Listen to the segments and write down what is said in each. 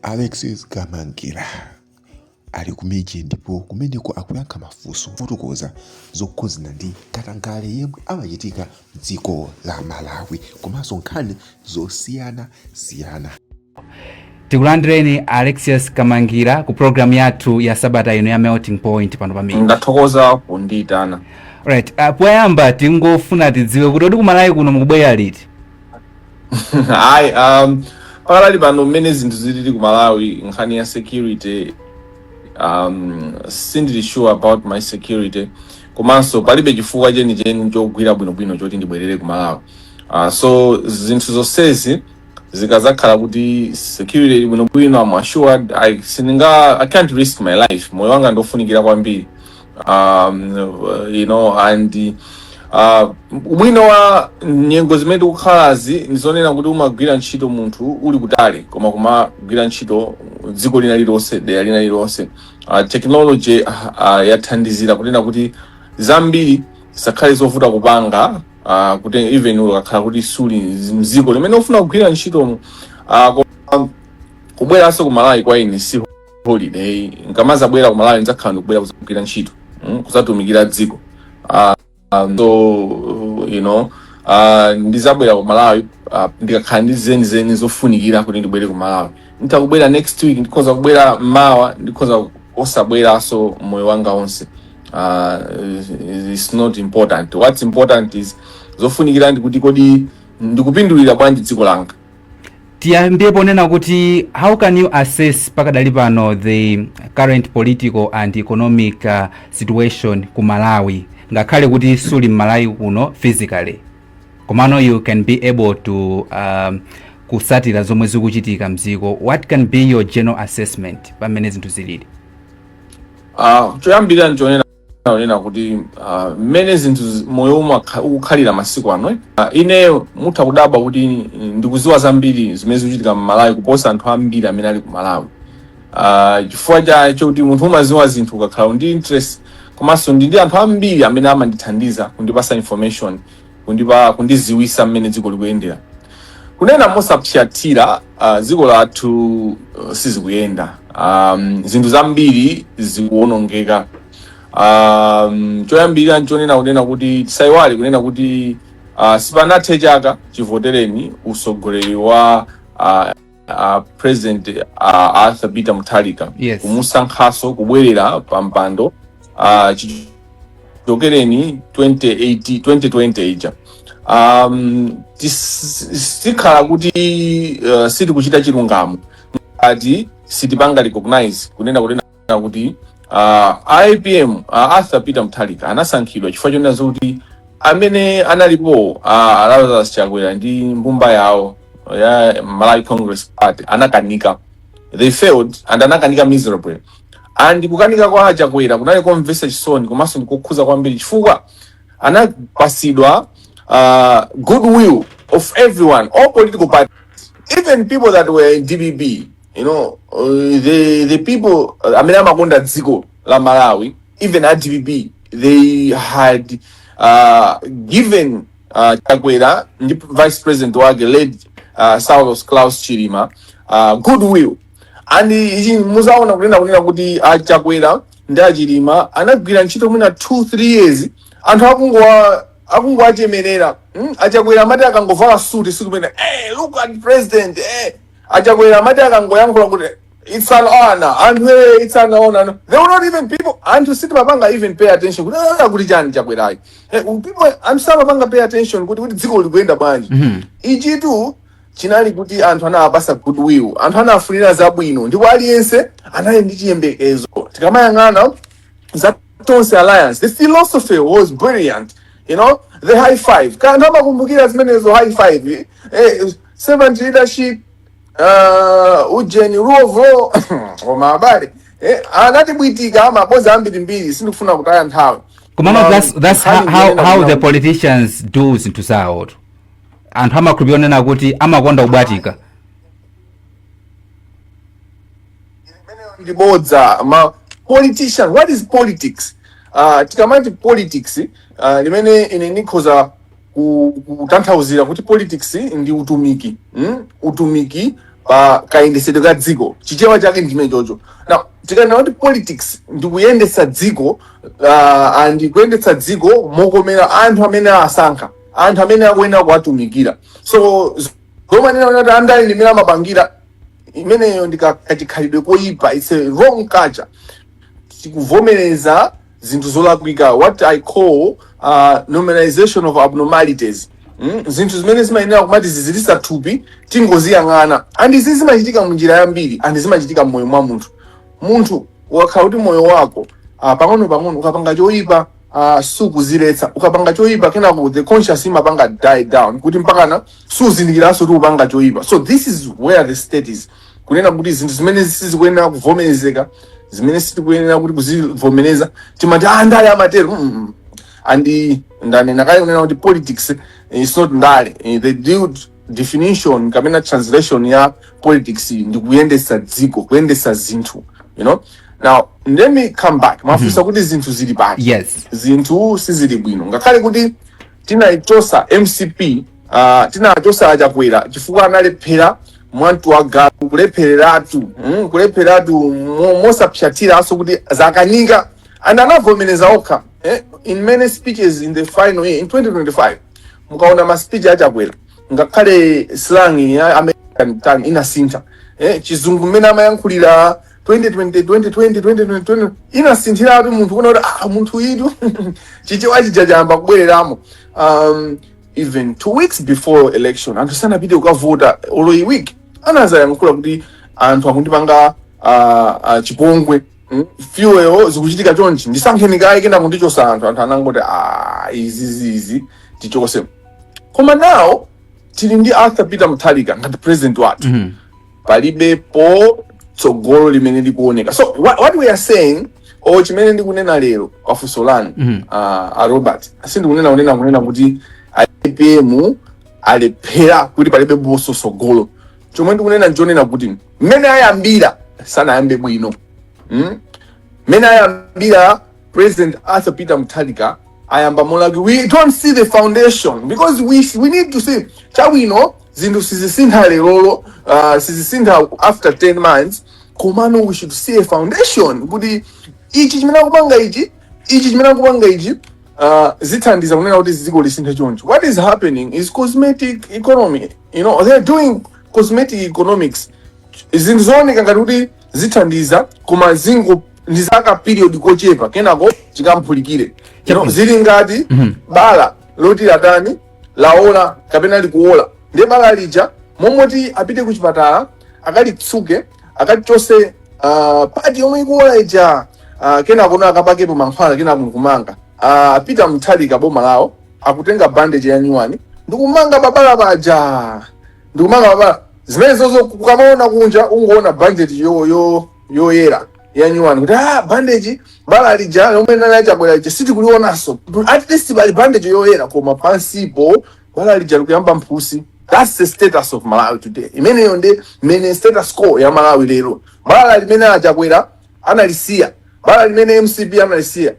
Alexis Kamangila ali kumidzi ndipo kumeneko akuyankha mafunso pofotokoza zokhudzana ndi katangale yemwe amachitika m'dziko la Malawi komanso nkhani zosiyanasiyana. tikulandireni Alexis Kamangila ku programu yathu ya sabata ino ya melting point pano pamene ndathokoza kundiitana right uh, poyamba tingofuna tidziwe kuti kodi kumalawi kuno mukubwera liti ayi um, pakadali pano mmene zinthu zilili ku malawi nkhani ya security um, sindili sure about my security komanso palibe chifukwa chenicheni chogwira bwinobwino choti ndibwerere ku malawi uh, so zinthu zonsezi zikazakhala kuti security ili bwino bwino I'm assured i sindinga i can't risk my life moyo wanga ndofunikira kwambiri um, you know and uh, ubwino wa nyengo zimene tikukhalazi ndizonena kuti umagwira ntchito munthu uli kutali koma kumagwira ntchito dziko lina lilonse dera lina lilonse uh, technology uh, yathandizira kunena kuti zambiri zisakhale zovuta kupanga uh, kuti even ukakhala kuti suli mziko limene ufuna kugwira ntchitomo uh, koma kubweranso ku malawi kwa ine si holiday nkamazabwera ku malawi nzakhala ndikubwera kuzagwira ntchito mm, kuzatumikira dziko uh, um, so you know uh, ndizabwera ku malawi uh, ndikakhala ndi zeni zeni zofunikira kuti ndibwere ku malawi nditha kubwera next week ndikhoza kubwera mawa ndikhoza osabweranso moyo wanga wonse uh, it's not important what's important is zofunikira ndi kuti kodi ndikupindulira bwanji dziko langa tiyambire ponena kuti how can you assess pakadali pano the current political and economic uh, situation ku malawi ngakhale kuti suli mmalawi kuno physically komano you can be able to um, kusatira zomwe zikuchitika mdziko what can be your general assessment pa mmene zinthu zilili Ah, choyambirira nchonena onena kuti ah, mmene zinthu zi- moyo umo akha- ukukhalira masiku ano eh, ah, ine mutha kudabwa kuti mm, ndikuziwa zambiri zimene zikuchitika mmalawi kuposa anthu ambiri amene ali ku malawi Ah, chifukwa chake choti munthu umaziwa zinthu ukakhala ndi interest komanso ndili ndi anthu ambiri amene amandithandiza kundipasa information kundipa kundiziwisa mmene dziko likuyendera kunena mosapsatira uh, dziko lathu uh, sizikuyenda um, zinthu zambiri zikuwonongeka um, choyambirira nchonena kunena kuti tisayiwale kunena kuti uh, sipanathe chaka chivotereni usogoleri wa uh, uh, president uh, arthur peter mutharika Yes. kumusankhaso kubwerera pa mpando uh, chichokereni 2018 2020 ija um, tis- sikhala kuti uh, sitikuchita chilungamo ngati sitipanga recognize kunena kuti na kuti ah, a apm a arthur peter mutharika anasankhidwa chifukwa chonena zoti amene analipo ah, lazarus chakwera ndi mbumba yawo ya malawi congress party anakanika they failed and anakanika miserably and kukanika kwa chakwera kunali komvetsa chisoni komanso ndikokhuza kwambiri chifukwa anapasidwa uh, goodwill of everyone all political parties even people that were in dpp you know uh, the the people uh, amene amakonda dziko la malawi even a dpp they had uh, given uh, chakwera ndi vice president wake late uh, saulos claus chilima uh, goodwill and ichi muzaona kune kunena kuti a chakwera ndi a chilima anagwira ntchito mwina 2 3 years anthu akungowa akungowachemerera mm? achakwera amati akangovala suti sikumene hey, look at president hey, A Chakwera amati akangoyankhula kuti it's an honor anthu eh, it's an honor no. they were not even people anthu sitimapanga even pay attention kuti "Ah, kuti chani a Chakwerawa Eh, people anthu samapanga pay attention kuti kuti dziko likuyenda bwanji Mhm. ichitu chinali kuti anthu anawapasa goodwill anthu anawafunira zabwino ndipo aliyense anali ndi chiyembekezo tikamayang'ana za tonse alliance the philosophy was brilliant you know the high five kaya anthu amakumbukira zimenezo high five eh, servant leadership uh, ujeni rule of law koma abale eh, anatibwatika mabodza ambirimbiri sindikufuna kutaya nthawi komano Koma that's, that's how, nkhani how, iyenera how the kunena- politicians do zinthu zawotu anthu amakhulupirira onena kuti amakonda kubwatika ndibodza ma politician what is politics uh, tikamati politics uh, mmene ine ndikhoza ku- kutanthauzira kuti politics ndi utumiki mm? utumiki pa kayendetsedwe ka dziko chichewa chake ndi chimene chocho now tikanena kuti politics ndi kuyendetsa dziko uh, and kuyendetsa dziko mokomera anthu amene awasankha anthu amene akuyenera kuwatumikira so z- zomanena kuti andale ndi mmene amapangira imeneyo ndi ka- kachikhalidwe koyipa its a wrong culture tikuvomereza zinthu zolakwika what i call uh, normalization of abnormalities mm? zinthu zimene zimayenera kumati zizilisa thupi tingoziyang'ana and izi zimachitika mu njira yambiri and zimachitika mmoyo mwa munthu munthu ukakhala kuti moyo wako uh, pang'ono pang'ono ukapanga choyipa uh, sukuziletsa ukapanga choyipa kenako the conscious imapanga die down kuti mpakana suzindikiranso kuti upanga choyipa so this is where the state is kunena kuti zinthu zimene sizikuyenera kuvomerezeka zimene sitikuyenera kuti kuzivomereza timati ah ndale amatero mm -mm. andi ndanena kale kunena kuti politics is not ndale Eh, the definition kapena translation ya politics ndi kuyendetsa dziko kuyendetsa zinthu you know now let me come back mwafunsa kuti zinthu zili pati yes zinthu sizili bwino ngakhale kuti tinaichotsa mcp Ah, tinachotsa a chakwera chifukwa analephera mwamtu wa galu kulephereratu mm, kulephereratu mo- mosapsatiranso kuti zakanika and anavomereza okha eh, in many speeches in the final year in 2025 mukaona ma speech a chakwera ngakhale slang ya american tongue inasintha eh, chizungu mmene amayankhulira 2020 2020 2020 inasinthiratu munthu kuona kuti ah, munthu uyutu chichewa chija chayamba kubwereramo um, even two weeks before election anthu sanapite kukavota olo iyi week anazayankhula kuti anthu akundipanga ah, ah, chipongwe mm, fuel zikuchitika chonchi ndisankheni kaye kenako ndichotse anthu anthu anangoti "Ah, izi zizi tichotse koma now tili ndi arthur peter mutharika ngati president wathu Mhm. palibepo tsogolo limene likuoneka so what, what we are saying o chimene ndikunena lero pafunso lanu Mhm. ah, a robert sindikunena kunena kunena kuti apm alephera kuti palibeponso tsogolo chomwe ndikunena ndichonena kuti mmene ayambira sanayambe bwino mm? mmene ayambira president arthur peter mutharika ayamba molakwika we don't see the foundation because we, we need to see chabwino zinthu sizisintha lerolo uh, sizisintha after 10 months komano we should see a foundation kuti ichi chimene akupanga ichi ichi chimene akupanga ichi uh, zithandiza kunena kuti dziko lisinthe choncho what is happening is cosmetic economy you know they're doing cosmetic economics zinthu zooneka ngati kuti zithandiza koma zingo ndi zaka period kochepa kenako chikaphulike you know, zili ngati bala loti latani laola kapena likuola ndiye bala lija mmalo moti apite ku chipatala akalitsuke akachotse uh, part yomwe ikuola ija uh, kenako na akapakepo mankhwala kenako nkumanga uh, a peter mutharika boma lawo akutenga bandage ya nyuwani ndikumanga pabala paja ndikumanga pabala zimenezozo ukamaona kunja ungoona bandage yo yo yoyera yanyuwani kuti ah bandage bala lija lomwe nali a Chakwera lija sitikulionanso at least bali bandage yoyera koma pansipo bala lija likuyamba mphutsi that's the status of malawi today imeneyo ndi mene status quo ya malawi lero bala limene a Chakwera analisiya bala limene mcp analisiya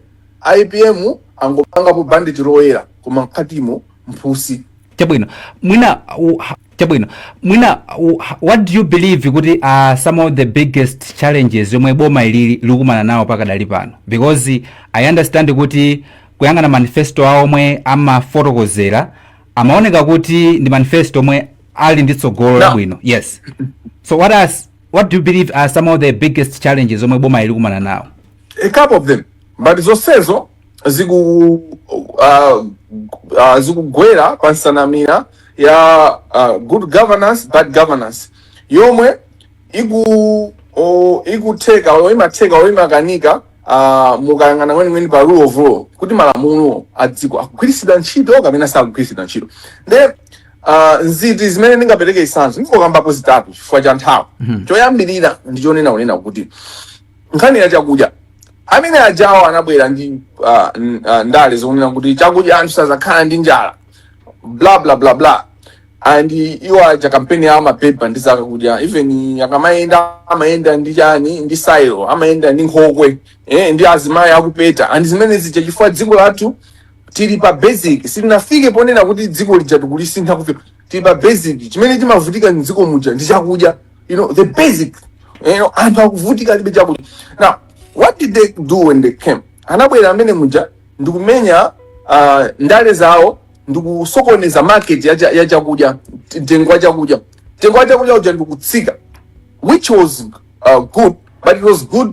ipm angopangapo bandage loyera koma mkatimo mphutsi chabwino mwina u- ha- chabwino mwina u- what do you believe kuti uh, some of the biggest challenges yomwe boma ili likumana nawo pakadali pano because i understand kuti kuyang'ana manifesto awo omwe amafotokozera amaoneka kuti ndi manifesto omwe ali ndi tsogolo labwino yes so what, are, what do you believe are some of the biggest challenges omwe boma ili likumana nawo a couple of them but zonsezo ziku uh, uh, zikugwera pa msanamira ya uh, good governance bad governance yomwe iku o, ikutheka o, imatheka o, imakanika uh, mukayang'ana kwenikweni pa rule of law kuti malamulo a dziko akugwiritsidwa ntchito kapena sakugwiritsidwa ntchito nde uh, nzinthu zimene ndingapereke zitsanzo ndingokambapo zitatu chifukwa cha nthawi choyambirira ndi chonena kunena kuti nkhani ya chakudya amene ajawo anabwera ndi ah, n- ah, ndale zonena kuti chakudya anthu sazakhala ndi njala bla bla bla bla and iwo aja kampeni yawo amapanga ndi zakudya even akamayenda amayenda ndi chani ndi sailo amayenda ndi nkhokwe eh, ndi azimayi akupeta and zimene zija chifukwa dziko lathu tili pa basic sitinafike ponena kuti dziko lija tikulisintha kufika tili pa basic chimene timavutika mdziko muja ndi chakudya you know the basic you know anthu akuvutika alibe chakudya now what did they do when they came anabwera amene muja ndikumenya uh, ndale zawo ndikusokoneza market ya, cha- ya chakudya mtengo wa chakudya mtengo wa chakudya uja ndikutsika which was uh, good but it was good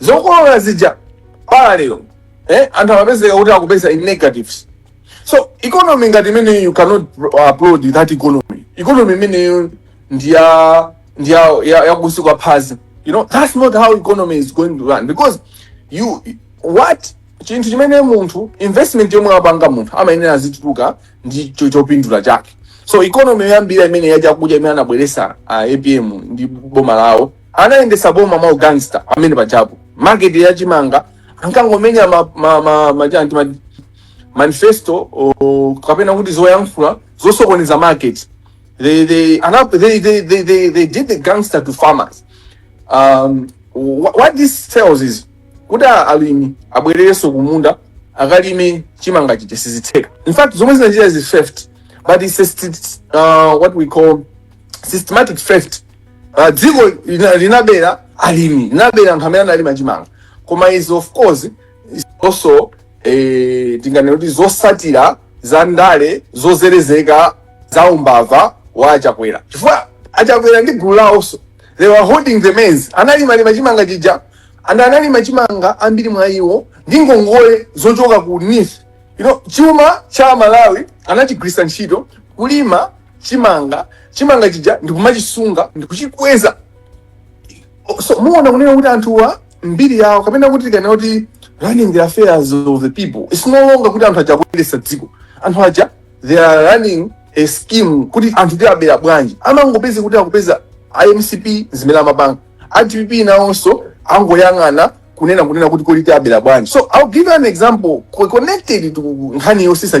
zokolola zija parallel eh, anthu amapezeka kuti akupeza in negatives so economy ngati imeneyi you cannot applaud that economy economy imeneyo ndiya ndiya ya- ya kunsi kwa phazi you know that's not how economy is going to run because you what chinthu chimene munthu investment yomwe wapanga munthu amayenera azitukuka ndi cho- chopindula chake so economy yoyambira imene yachakudya imene anabweresa uh, apm ndi boma lawo anayendesa boma mwa ugangster amene pajapo market ya chimanga ankangomenya ma, ma, ma, ma, chanti, ma, manifesto o, kapena kuti zoyankhula zosokoneza market they, they, ana, they, they, they, they, they did the gangster to farmers um, wh- what this tells is kuti a- alimi abwererenso kumunda akalime chimanga chija sizitheka in fact zomwe zinachita is theft but it's a, st- uh, what we call systematic theft uh, dziko lina- linabera alimi linabera anthu amene analima chimanga koma izi of course is also eh, tinganena kuti zosatira za ndale zozerezeka za umbava wa achakwera chifukwa achakwera ndi gulu lawonso they were holding the maize analimalima chimanga chija and analima chimanga ambiri mwa iwo ndi ngongole zochoka ku NEEF you know, chuma cha aMalawi anachigwiritsa ntchito kulima chimanga chimanga chija ndikumachisunga ndikuchikweza O- so muona kunena kuti anthuwa mbiri yawo kapena kuti tikanena kuti running the affairs of the people its no longer kuti anthu aja akuyendetsa dziko anthu aja they are running a scheme kuti anthu tiabera bwanji amangopezeka kuti akupeza a MCP zimene amapanga a DPP nawonso angoyang'ana kunena kunena kuti kodi tiabera bwanji so ill give you an example co- connected to nkhani yotsitsa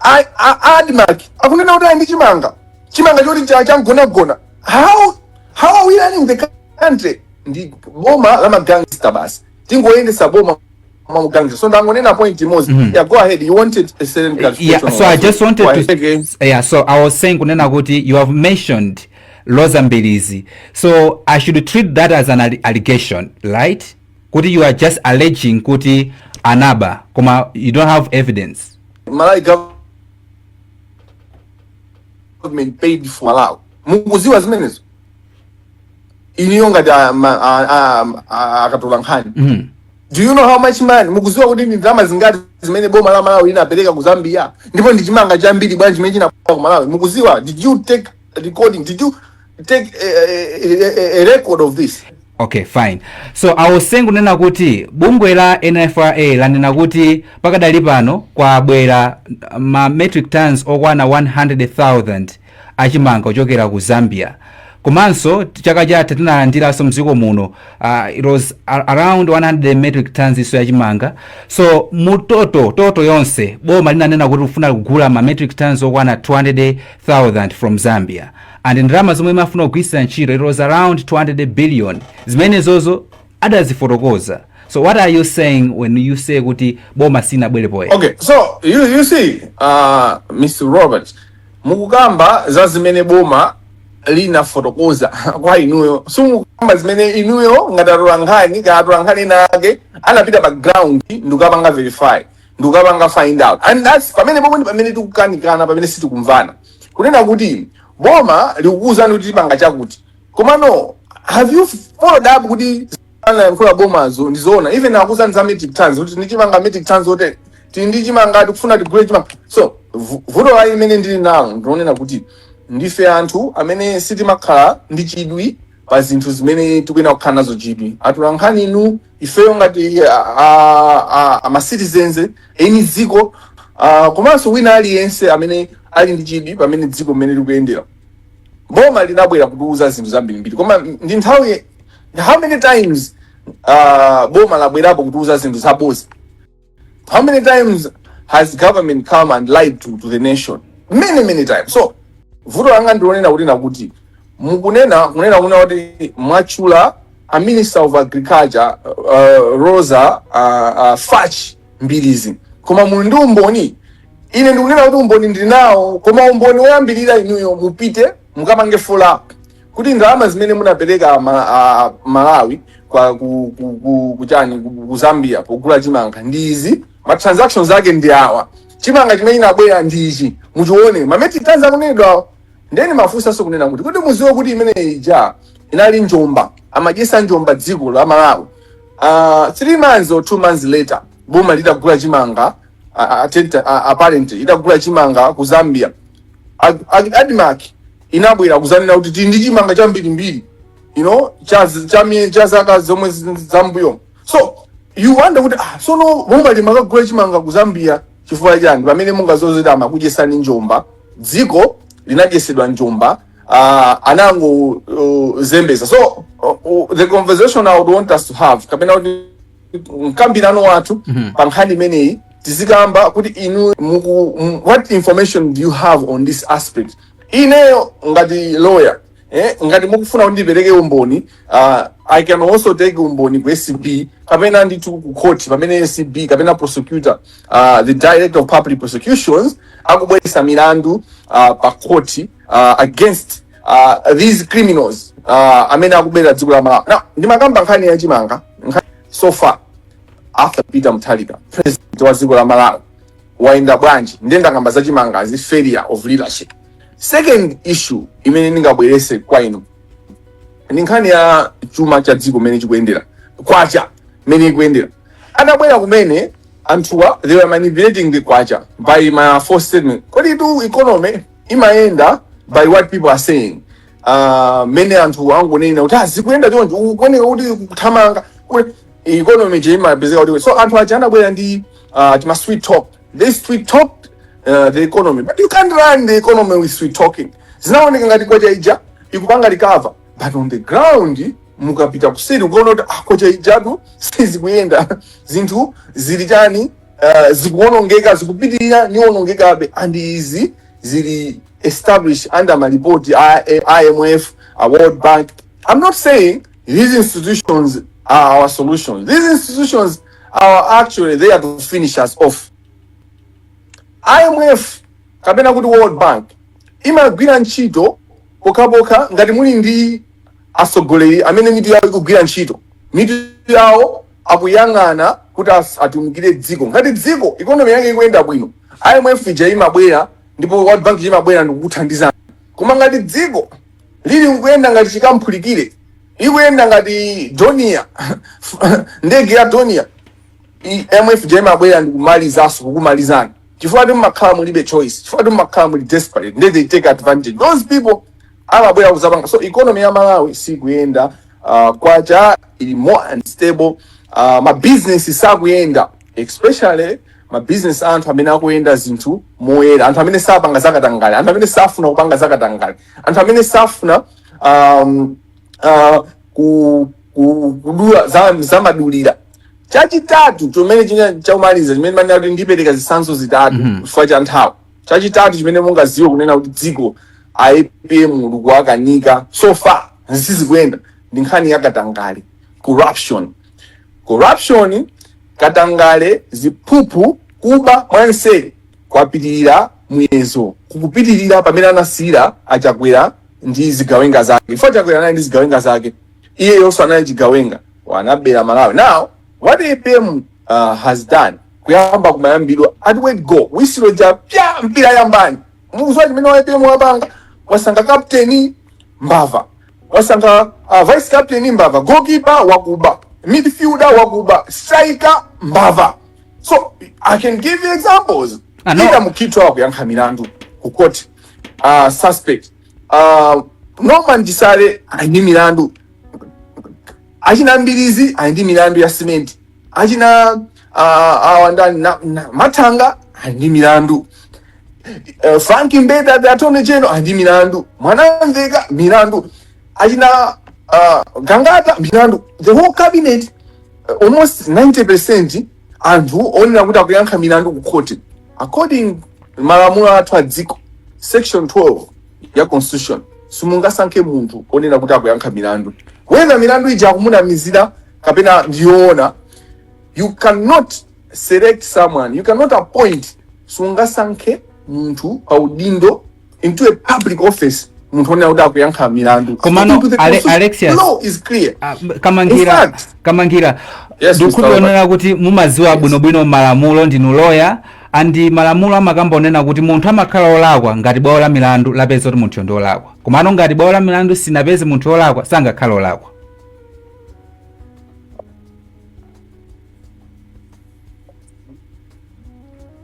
a- a- a Admarc akunena kuti ali ndi chimanga chimanga choti cha- changonagona how how are we running the country ndi boma la magangster basi tingoyendetsa boma mwa magangster so ndangonena point imodzi Mhm. yeah go ahead you wanted a certain Yeah, clarification so I just wanted to Go ahead. yeah, so I was saying kunena kuti you have mentioned Roza Mbilizi. So I should treat that as an alli- allegation, right? Kuti you are just alleging kuti anaba, koma you don't have evidence. Malawi government paid for Malawi. Mukudziwa zimenezo. Inuyo ngati a- ma- a- a- a- atolankhani. Mm. Do you know how much money? Mukudziwa kuti ndi ndalama zingati zimene boma la Malawi linapereka ku Zambia? Ndipo ndi chimanga chambiri bwanji chimene chinabwera ku Malawi? Mukuziwa? Did you take recording? Did you take a, a, a, a record of this? okay fine so I was saying kunena kuti bungwe la nfra lanena kuti pakadali pano kwabwera ma metric tons okwana 100,000 achimanga kuchokera ku zambia komanso chaka chatha tinalandiranso mdziko muno uh, it was ar- around 100 metric tons isoso yachimanga so mu total total yonse boma linanena kuti likufuna kugula ma metric tons okwana thousand from Zambia and ndalama zomwe limafuna kugwiritsira ntchito it was around 200 billion zimenezozo adazifotokoza so what are you saying when you say kuti boma silinabwere poyera okay so you, you see uh, mr robert mukukamba za zimene boma linafotokoza kwa inuyo simukukamba zimene inuyo ngati atolankhani kaya atolankhani ena ake anapita pa ground ndikukapanga verify ndikukapanga find out and that's pamene pomwe ndi pamene tikukanikana pamene sitikumvana kunena kuti boma likukuwuzani kuti tipanga chakuti komano have you followed up kuti anayankhula bomazo ndizoona even akuwuzani za metric tons kuti ndichimanga metric tons ote tili ndi chimanga tikufuna tigule chimanga so vu- vuto la imene ndili nalo ndionena kuti ndife anthu amene sitimakhala ndi chidwi pa zinthu zimene tikuyenera kukhala nazo chidwi atulankhani inu ifeyo ngati a, a, a, a ma citizens eni dziko uh, komanso wina aliyense amene ali ndi chidwi pamene dziko mmene likuyendera boma linabwera kutiuza zinthu zambirimbiri koma ndi nthawi how many times uh, boma labwerapo kutiuza zinthu zabodza How many times has government come and lied to, to the nation? Many, many times. So, vuto langa ndilonena kuti nakuti mukunena kunena kunena kuti mwatchula a minister of agriculture uh, Roza uh, uh, fach mbilizi koma muli ndi umboni ine ndikunena kuti umboni ndinawo koma umboni woyambirira inuyo mupite mukapange follow up kuti ndalama zimene munapereka ma, a, malawi kwa ku, ku, ku, kuchani ku, ku zambia pogula chimanga ndi izi ma transactions ake ndi awa chimanga chimene inabwera ndi ichi muchione ma metric tons akunenedwa nde ndimafunsanso kunena kuti kuti mudziwe kuti imene ija inali njomba amadyetsa njomba dziko la malawi uh, three months or two months later boma litagula chimanga uh, uh, apparently litagula chimanga ku zambia Ag- Ag- admark inabwera kuzanena kuti tili ndi chimanga chambirimbiri you know cha cha mie- cha zaka zomwe zi- zambuyo so you wonder kuti ah sono boma limakagula chimanga kuzambia chifukwa chani pamene mungadziwe zoti amakudyetsani njomba dziko linadyetsedwa njomba uh, anango uh, zembeza so uh, uh, the conversation i would want us to have kapena kuti mkambirano wathu pa nkhani imeneyi tizikamba kuti inu muku, m- what information do you have on this aspect ineyo ngati lawyer eh, ngati mukufuna kuti ndipereke umboni uh, i can also take umboni ku acb kapena ndithu ku court pamene acb kapena prosecutor uh, the director of public prosecutions akubweretsa milandu uh, pa court uh, against uh, these criminals uh, amene akubera dziko la malawi now ndimakamba nkhani ya chimanga so far after peter mutharika president wa dziko la malawi wayenda bwanji ndiye ndakamba za chimangazi failure of leadership second issue imene ndingabweretse kwa inu ndi nkhani ya chuma cha dziko mmene chikuyendera kwacha mmene ikuyendera atabwera kumene anthuwa they were manipulating the kwacha by my first statement koditu economy imayenda by what people are saying ah, mmene anthu angonena kuti "Ah, zikuyenda choncho ukuoneka kuti kuthamanga kuti economy je imapezeka kuti so anthu aja anabwera ndi ah, tima sweet talk they sweet talked uh, the economy but you can't run the economy with sweet talking zinaoneka ngati kwacha ija ikupanga recover but on the ground mukapita kuseri ukaona kuti ah, kwacha ijatu sizikuyenda zinthu zili chani uh, zikuonongeka zikupitirira zikuonongekabe and izi zili established under malipoti a a IMF, a World Bank. I'm not saying these institutions are our solutions. These institutions are actually there to finish us off. IMF kapena kuti World Bank imagwira ntchito pokhapokha ngati muli ndi atsogoleri amene mitu yawo ikugwira ntchito mitu yawo akuyang'ana kuti atumikire dziko ngati dziko ikonomi yake ikuyenda bwino imf ija imabwera ndipo world bank imabwera ndikukuthandizani koma ngati dziko lili kuyenda ngati chikamphulikire ikuyenda ngati donia ndege ya donia imf ija imabwera ndikumalizanso kukumalizani chifukwa mumakhala mulibe choice chifukwa mumakhala muli desperate nde they take advantage those people amabwera kuzapanga so economy ya malawi sikuyenda uh, kwacha ili more unstable uh, ma business sakuyenda especially ma business a anthu amene akuyenda zinthu moyera anthu amene sapanga zakatangale anthu amene safuna kupanga zakatangale anthu amene safuna um, uh, ku, ku, kudula za, za madulira chachitatu chomene china chaumaliza chimene ndinati ndipereka zitsanzo zitatu chifukwa cha nthawi chachitatu chimene mungaziwe kunena kuti dziko a apm likuwakanika so far sizikuyenda ndi nkhani ya katangale corruption corruption katangale ziphuphu kuba mwanseri kwapitirira muyezo kukupitirira pamene anasiyira achakwera ndi zigawenga zake chifukwa chakwera anali ndi zigawenga zake iyeyonso anali chigawenga wanabera malawi now what apm uh, has done kuyamba kumayambidwa at word go wisilo ja pya mpira yambani muzwa chimene waipemu wapanga wasanga kapteni mbava wasanga uh, vice captain mbava goalkeeper wakuba midfielder wakuba striker mbava so i can give you examples Ah, no. Peter mukitwa wakuyankha milandu ku court uh, suspect uh, norman jisale ali ndi milandu achinambirizi ali ndi milandu ya simenti achina ah, awa ndani na- na- mathanga ali ndi milandu Eh, frank mbeta the attorney general ali ndi milandu mwanamvekha milandu achina ah, gangata milandu the whole cabinet eh, almost 90 percent anthu onena kuti akuyankha milandu ku khoti according malamulo athu a dziko section 12 ya constitution simungasankhe munthu onena kuti akuyankha milandu whether milandu ija akumunamizira kapena ndi yoona you cannot select someone you cannot appoint sungasankhe munthu pa udindo into a public office munthu onena kuti akuyankha milandu Komano, According to the Ale- constitution, Alexius. law is clear Ah, b- kamangira In fact- kamangira Yes, Mr. ndikuonera Robert. kuti mumadziwa bwinobwino malamulo ndinu loya andi malamulo amakamba onena kuti munthu amakhala olakwa ngati bwalo la milandu lapeza kuti munthu ndi olakwa komano ngati bwalo la milandu sinapeze munthu olakwa sangakhala olakwa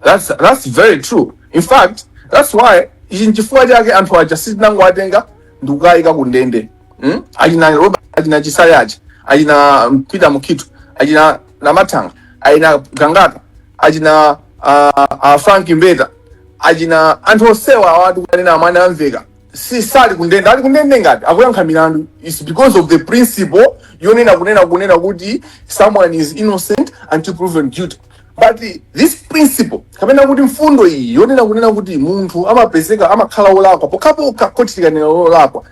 that's, that's very true in fact that's why ichi nchifukwa chake anthu aja sitinangowatenga ndikukayika kundende mm? achina Roba achina Chisale aja achina mm, Peter Mukhito achina Namathanga achina Gangata achina uh, uh, Frank Mbeta achina anthu onsewa awa tikanena a Mwanamvekha si sali kundende ali kundende ngati akuyankha milandu it's because of the principle yonena kunena kunena kuti someone is innocent until proven guilty but this principle kapena kuti mfundo iyi yonena kunena kuti munthu amapezeka amakhala olakwa pokhapokha khoti likanena olakwa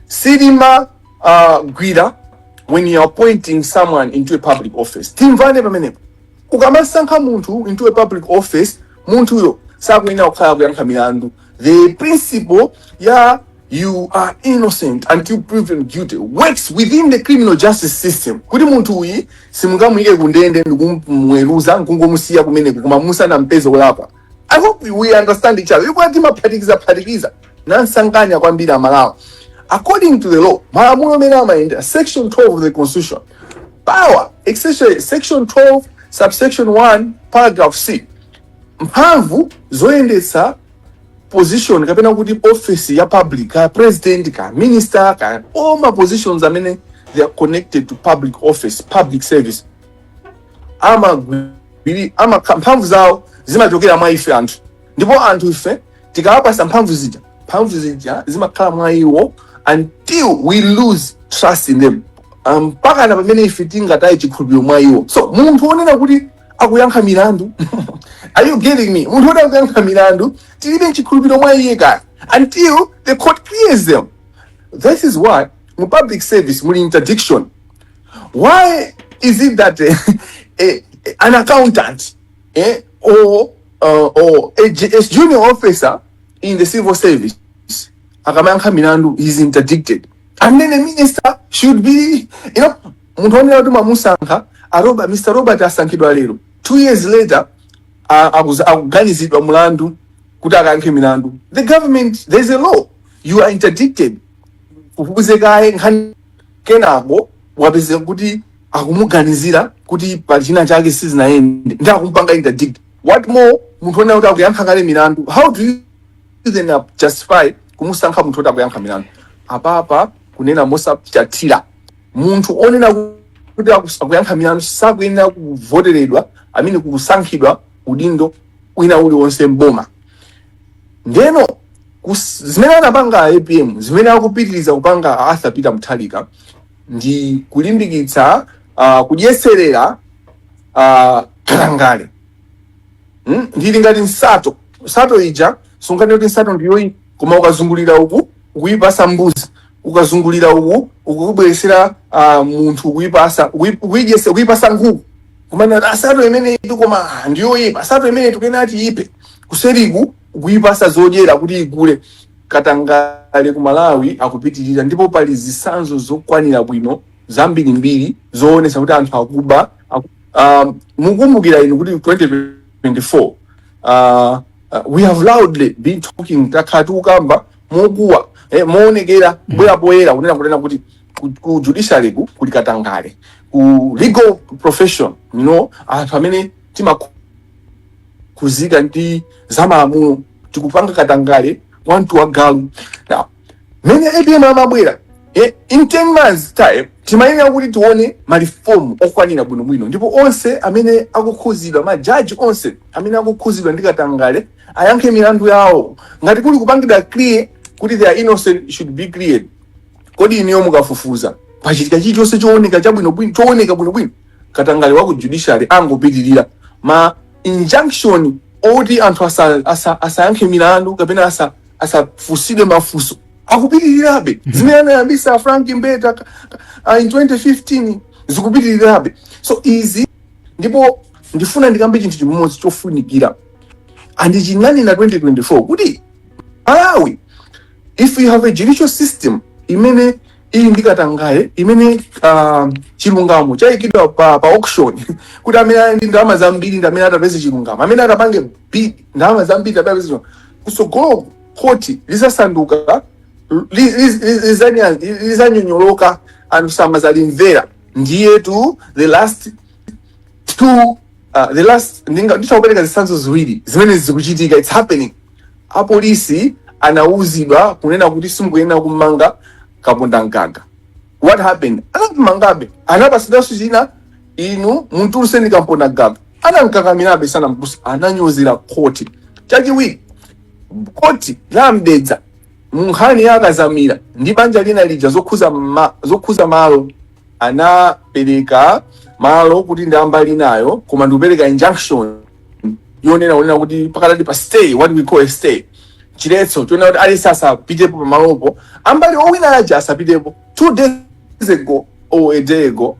silima uh, gwira when you are appointing someone into a public office timvane pamenepo ukamasankha munthu into a public office munthuyo sakuyenera kukhala kuyankha milandu The principle ya you are innocent until proven guilty works within the criminal justice system kuti munthu uyi simungamuyike kundende ndikumweruza nkungomusiya kumeneko koma musanampeze olakwa I hope we understand each other ikuti timaphatikiza phatikiza nsanganya kwambiri amalawi according to the law malamulo amene amayenda section 12 of the constitution power especially section 12 subsection 1 paragraph c mphamvu zoyendetsa position kapena kuti office ya public kaya president kaya minister kaya all ma positions amene they are connected to public office public service amagwiri ama mphamvu zawo zimachokera mwa ife anthu ndipo anthu ife tikawapasa mphamvu zija mphamvu zija zimakhala mwa iwo until we lose trust in them mpaka na pamene ife tingataye chikhulupiriro mwa iwo so munthu onena kuti akuyankha milandu are you getting me munthu woti akuyankha milandu tilibe nchikhulupiriro mwa iye kaya until the court clears them this is why mu public service muli interdiction why is it that eh, eh, eh, an accountant eh, or uh, or a, ju- a junior officer in the civil service akamayankha milandu is interdicted and then a minister should be you know Munthu onena kuti mwamusankha a Robert, Mr Robert asankhidwa lero 2 years later a- akuza- akuganizidwa mulandu kuti akayankhe milandu. The government there is a law you are interdicted kufufuze kaye nkhani kenako wapezeka kuti akumuganizira kuti pali china chake sizinayende ndi akumupanga interdict what more munthu onena kuti akuyankha kale milandu how do you then uh, justify kumusankha munthu oti akuyankha milandu apapa kunena mosapsatira munthu onena kuti akus- akuyankha milandu sakuyenera kuvoteredwa amene kusankhidwa udindo wina uliwonse mboma ndeno kus- zimene anapanga a apm zimene akupitiriza kupanga a arthur peter mutharika ndi kulimbikitsa uh, kudyeserera uh, katangale mm? ndili ngati nsato nsato ija sunganene kuti nsato ndiyoyi koma ukazungulira uku ukuyipasa mbuzi ukazungulira uku ukubweresera uh, munthu kuipasa kui- kuidyesa kuipasa nkhuku komano nsato imeneyitu koma ah, ndiyoyipa nsato imene tukunena kuti tiiphe kuseriku ukuipasa zodyera kuti ikule katangale ku malawi akupitirira ndipo pali zisanzo zokwanira bwino zambirimbiri zoonesa kuti anthu akuba aku, um, mukumbukira inu kuti 2024 uh, uh, we have loudly been talking takhala tikukamba mokuwa eh, moonekera kubwera poyera kunena kunena kuti ku, ku judiciary ku kuli katangale ku legal profession you know anthu amene timakhuzika ndi zamalamulo tikupanga katangale wamtu wa galu now mene apm amabwera eh, in 10 months time timayenera kuti tione malifomu okwanira bwinobwino ndipo onse amene akukhuzidwa majaji onse amene akukhuzidwa ndi katangale ayankhe milandu yawo ngati kuli kupangidwa clear kuti they are innocent should be cleared kodi inuyo mukafufuza pachitika chilichonse chooneka chabwinobwino chooneka bwinobwino katangale wa ku judiciary angopitirira ma injunction oti anthu asa- asa- asayankhe milandu kapena asa- asafunsidwe mafunso akupitirirabe zimene anayambisa frank mbeta ka- ka- ah, in 2015 zikupitirirabe so izi ndipo ndifuna ndikambe chinthu chimodzi chofunikira and chinanena 2024 kuti malawi if you have a judicial system imene ili ndi katangale imene uh, chilungamo chayikidwa pa, pa auction kuti amene ali ndi ndalama zambiri ndi amene atapeze chilungamo amene atapange bid ndalama zambiri ndi amene atapeze chilungamo kusogolo khoti lizasanduka li- li- li- lizanya- lizanyonyoloka anthu samazalimvera ndiyetu the last two uh, the last ndinga nditha kupereka zitsanzo ziwiri zimene zikuchitika it's happening apolisi anauzidwa kunena kuti simukuyenera kumanga kapondamgaga what happened anammangabe anapasidanso china inu mumtulutseni kapondamgaga anamkakamirabe sanamtuluse ananyozera khoti chachiwiri khoti la a mdeza munkhani ya a kadzamira ndi banja lina lija zokhuza ma, zokhuza malo anapereka malo kuti ndi ambali inayo koma ndikupereka injunction yonena onena kuti pakadali pa stay what we call a stay chiletso chonena kuti aliyense asapitepo pamalopo ambali owina aja asapitepo two days ago or a day ago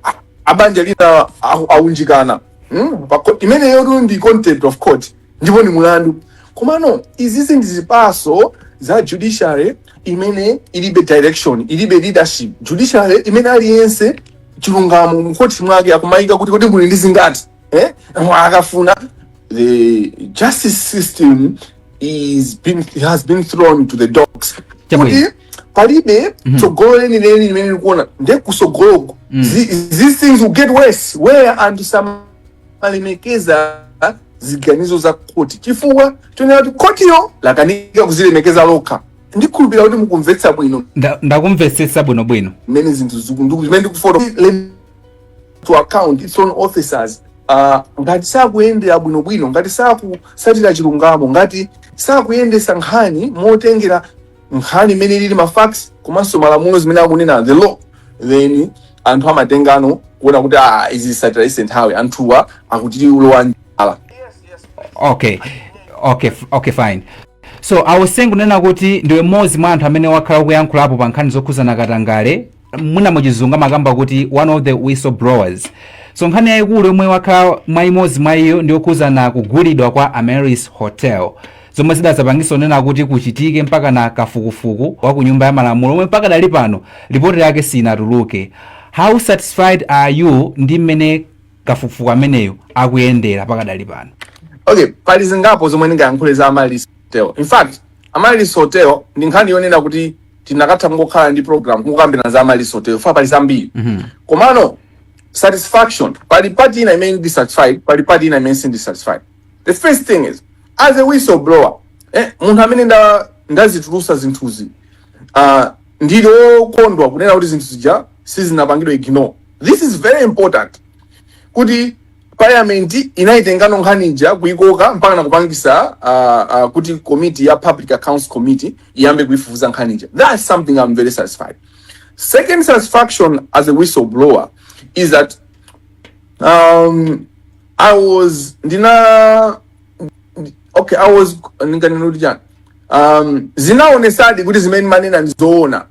a- abanja lina awu- awunjikana mm? imeneyotu ndi contempt of court ndipo ndi mulandu komano izizi ndi zipaso za judiciary imene ilibe direction ilibe leadership judiciary imene aliyense chilungamo mukhothi mwake akumayika kuti kodi muli ndi zingati eh? akafuna the justice system has been thrown to the dogs kuti palibe tsogolo lenileni limene likuona nde kusogoloko these things will get worse where and some kulemekeza ziganizo za khoti chifukwa chonena kuti khotiyo lakanika kuzilemekeza lokha ndikhulupirira kuti mukumvetsa bwino Nda- ndakumvetsetsa bwinobwino mmene zinthu zimene ndikufoto to account its own officers uh, ngati sakuyendera bwinobwino ngati sakusatira chilungamo ngati sakuyendesa nkhani motengera nkhani imene ilili ma facts komanso malamulo zimene akunena the law then anthu amatengano kuona kuti ah izi zisatira ise nthawi anthuwa akuti ulowa njala okay okay f- okay fine so I was saying kunena kuti ndiwe mmodzi mwa anthu amene wakhala ukuyankhulapo pa nkhani zokhuzana katangale mwina muchizungu amakamba kuti one of the whistleblowers so nkhani yayikulu yomwe wakhala mwa imodzi mwa iyo ndi yokhuzana kugulidwa kwa Amaryllis hotel zomwe zidazapangisa kunena kuti kuchitike mpaka na kafukufuku wa ku nyumba ya malamulo omwe pakadali pano ripoti yake sinatuluke how satisfied are you ndi mmene kafukufuku ameneyo akuyendera pakadali pano okay pali zingapo zomwe ndingayankhule za Amaryllis Hotel. In fact, Amaryllis Hotel ndi nkhani yonena kuti tikanatha kungokhala ndi program kukambirana za Amaryllis Hotel fa pali zambiri. Komano satisfaction pali part ina imene ndi satisfied pali part ina imene sindi satisfied. The first thing is as a whistleblower eh, munthu amene nda ndazitulusa zinthuzi uh, ndili okondwa kunena kuti zinthu zija sizinapangidwe ignore. This is very important kuti Parliament inaitengano nkhani ija kuikoka mpaka na kupangisa uh, uh, kuti committee ya Public Accounts Committee iyambe kuifufuza nkhani ija. That's something I'm very satisfied. Second satisfaction as a whistleblower is that um, I was ndina okay I was ndinganene kuti chani um, zinaonesadi kuti zimene ndimanena ndizoona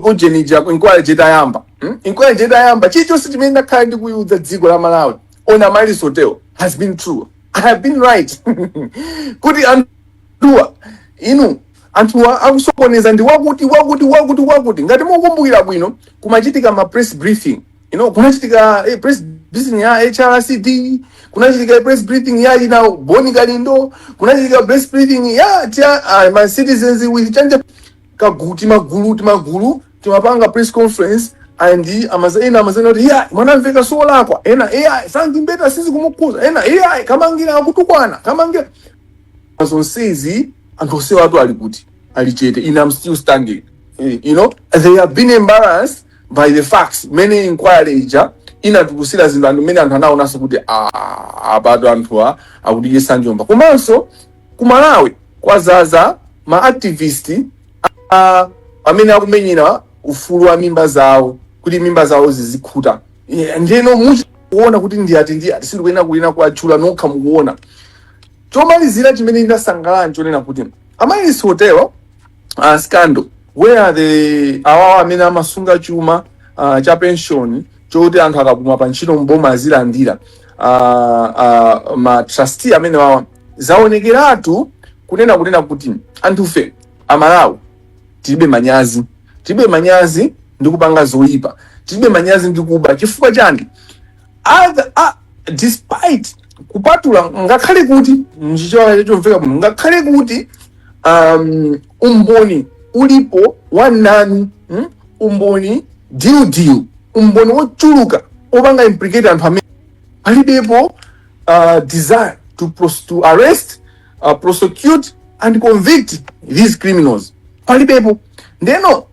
ujenija inquiry ija itayamba hmm? inquiry ija itayamba chilichonse chimene ndakhala ndikuyiwuza dziko la malawi on amaryllis hotel has been true i have been right kuti anthuwa you know anthuwa akusokoneza ndi wakuti wakuti wakuti wakuti ngati mukumbukira bwino kumachitika ma press briefing you know kunachitika eh, press briefing ya hrcd kunachitika press briefing ya ina bon kalindo kunachitika press briefing ya tia uh, ma citizens with change kagulu timagulu timagulu timapanga press conference and amaza ena amazanena kuti iya mwanamvekha solakwa ena iya frank mbeta sizikumukhuza ena iya kamangila akutukwana kamangila zonsezi anthu onsewatu ali kuti ali chete ine am still standing Eh, you know they have been embarrassed by the facts mene inquiry ija inatulusira zinthu anthu mene anthu anaonanso kuti ah, apatu anthuwa akutidyesa njomba komanso Ku Malawi kwazaza ma activist a amene akumenyera ufulu wa mimba zawo kuti mimba zawo zizikhuta. Yeah, Ndiyeno mukuona kuti ndi ati ndi ati sindikuyenera kuyenera kuwatchula nokha mukuona. Chomalizira chimene ndasangalala nchonena kuti Amaryllis Hotel uh, scandal where the awawa amene amasunga chuma uh, cha pension choti anthu akapuma pa ntchito mboma azilandira uh, uh, ma trustee amenewawa Zaonekeratu kunena kunena kuti anthufe a Malawi tilibe manyazi. Tilibe manyazi ndi kupanga zoipa. Tilibe manyazi ndi kuba. Chifukwa chani? Other, ah, despite kupatula ngakhale kuti mchichewa chomveka bwino ngakhale kuti um, umboni ulipo wamnanu mm? umboni diudiu umboni wochuluka wopanga implicate anthu amene palibepo uh, desire to, pros- to arrest uh, prosecute and convict these criminals palibepo ndeno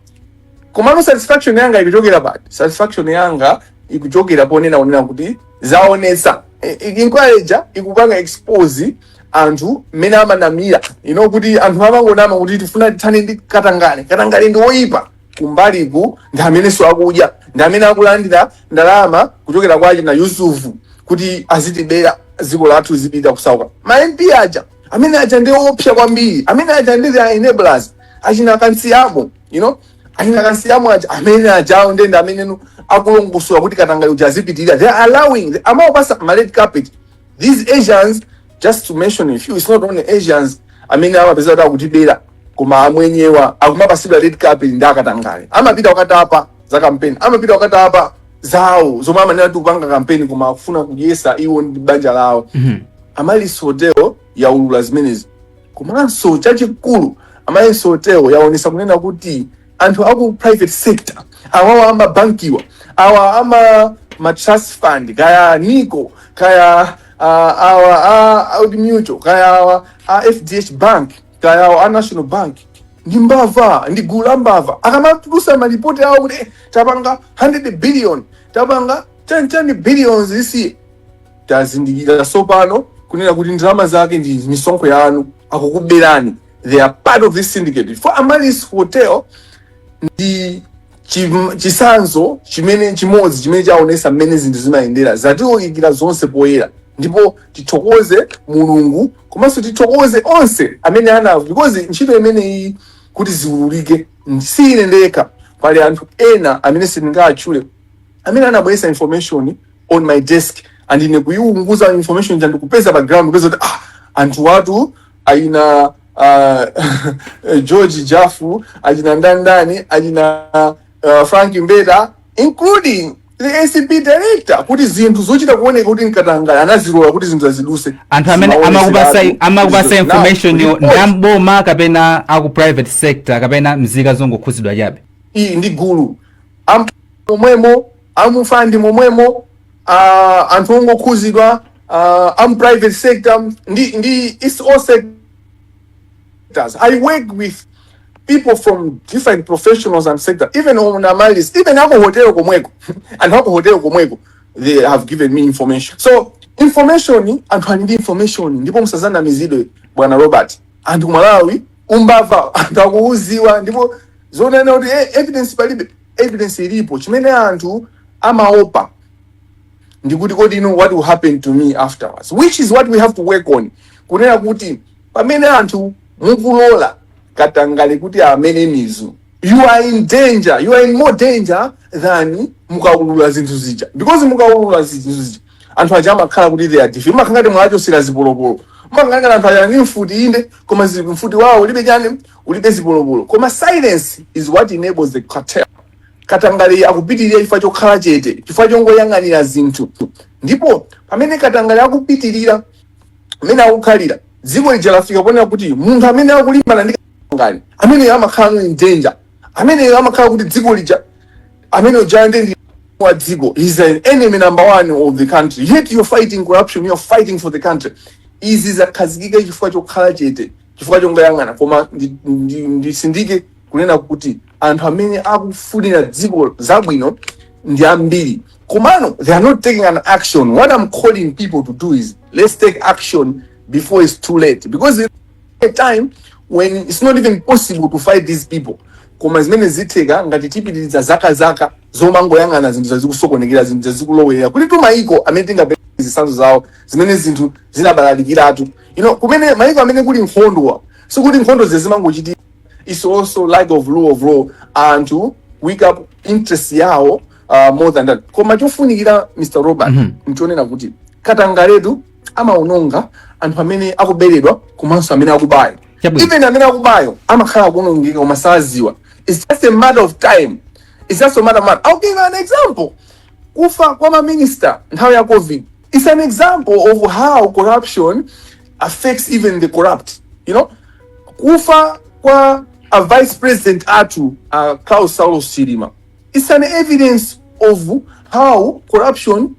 komano satisfaction yanga ikuchokera pati satisfaction yanga ikuchokera ponena kunena kuti zaonesa I- i- inquiry ija ikupanga expose anthu mmene amanamira you know kuti anthu amangonama kuti tifuna tithane ndi katangale katangale ndi woyipa kumbaliku ndi amenenso akudya ndi amene akulandira ndalama kuchokera kwa achina yusufu kuti azitibera dziko lathu zipita kusauka ma mp aja amene aja ndi oopsa kwambiri amene aja ndi the enablers achina kamsiyamo you know achina kamsiyamo aja amene ajawo ndi ndi amene you know akulongosola kuti katangale uja azipitirira they are allowing amawapasa ma red carpet these asians just to mention a few it's not only asians amene amapezeka kuti akutibera koma amwenyewa akumapasidwa red carpet ndi akatangale amapita kukatapa za kampeni amapita kukatapa zawo zomwe amanena kuti kupanga kampeni koma akufuna kudyesa iwo ndi banja lawo amaryllis hotel yaulula zimenezi komanso chachikulu amaryllis hotel yaonesa kunena kuti anthu aku private sector awawa amabankiwa awa ama ma trust fund kaya nico kaya uh, awa a Old mutual kaya awa a fdh bank kaya awa a national bank ndi mbava ndi gulu la mbava akamatulusa malipoti awo kuti eh, tapanga 100 billion tapanga 30 billions this year tazindikira sopano kunena kuti ndalama zake ndi misonkho yanu akukuberani they are part of this syndicate chifukwa Amaryllis hotel ndi chim- chisanzo chimene chimodzi chimene chaonesa mmene zinthu zimayendera zatiwulikira zonse poyera ndipo tithokoze mulungu komanso tithokoze onse amene anawo because ntchito imeneyi kuti ziwululike si ine ndekha pali anthu ena amene sindingatchule amene anabweresa information on my desk and ine kuyiunguza information ja ndikupeza pa ground kupeza kuti ah anthu watu achina uh, George Jafu, achina Ndandani, achina uh, Frank Mbeta including the ACB director kuti zinthu zochita kuoneka kuti nkatangale anazilola kuti zinthu zaziduse anthu amene amakupasa amakupasa information yo ndamboma kapena aku private sector kapena mzika zongokhuzidwa chabe ili ndi gulu Am- momwemo amufandi momwemo uh, anthu ongokhuzidwa uh, am private sector ndi, ndi it's all sectors i work with people from different professionals and sector even on Amaryllis even aku hotel komweko anthu aku hotel komweko they have given me information so information anthu ali ndi information ndipo musazanamizidwe bwana robert anthu m'Malawi umbava anthu akuuziwa ndipo zonena kuti eh, evidence palibe evidence ilipo chimene anthu amaopa ndikuti kodi you know what will happen to me afterwards which is what we have to work on kunena kuti pamene anthu mukulola katangale kuti amere mizu you are in danger you are in more danger than mukaulula zinthu zija because mukaulula zinthu zija anthu aja amakhala kuti they are defeated makangati mwachosera zipolopolo makangati anthu aja ndi mfuti inde koma zi- mfuti yawo ulibe chani ulibe zipolopolo koma silence is what enables the cartel katangale akupitirira chifukwa chokhala chete chifukwa chongoyang'anira zinthu ndipo pamene katangale akupitirira mmene akukhalira dziko lija lafika ponena kuti munthu amene akulimbana ndi katangale ameneyo amakhalano in danger ameneyo amakhala kuti dziko lija Amene ujayo nde mdani wa dziko, he's an enemy number one of the country yet you're fighting corruption, you're fighting for the country. Izi zakhazikika chifukwa chokhala chete, chifukwa chongoyang'ana. Koma ndi- ndi- ndisindike kunena kuti anthu amene akufunira dziko zabwino ndi ambiri komano they are not taking an action what i'm calling people to do is let's take action before it's too late because there's a time when it's not even possible to fight these people Koma zimenezi zitheka ngati tipitiriza zakazaka zomangoyang'ana zinthu zija zikusokonekera, zinthu zija zikulowerera. Kuli tu mayiko amene tingapeze zitsanzo zawo zimene zinthu zinabalalikiratu. You know, kumene mayiko amene kuli nkhondowa, sikuti nkhondo zija zimangochitika. It's also lack of rule of law. Anthu wake up interest yawo uh, more than that. Koma chofunikira Mr. Robert, Mhm. nchonena kuti katangaletu amaononga anthu amene akuberedwa komanso amene akubayo Chabwino. even amene akubayo amakhala akuonongeka koma saziwa its just a matter of time its just a matter of time. I'll give you an example kufa kwa maminista nthawi ya covid its an example of how corruption affects even the corrupt you know kufa kwa a vice president athu uh, Klaus Saulos Chilima Its an evidence of how corruption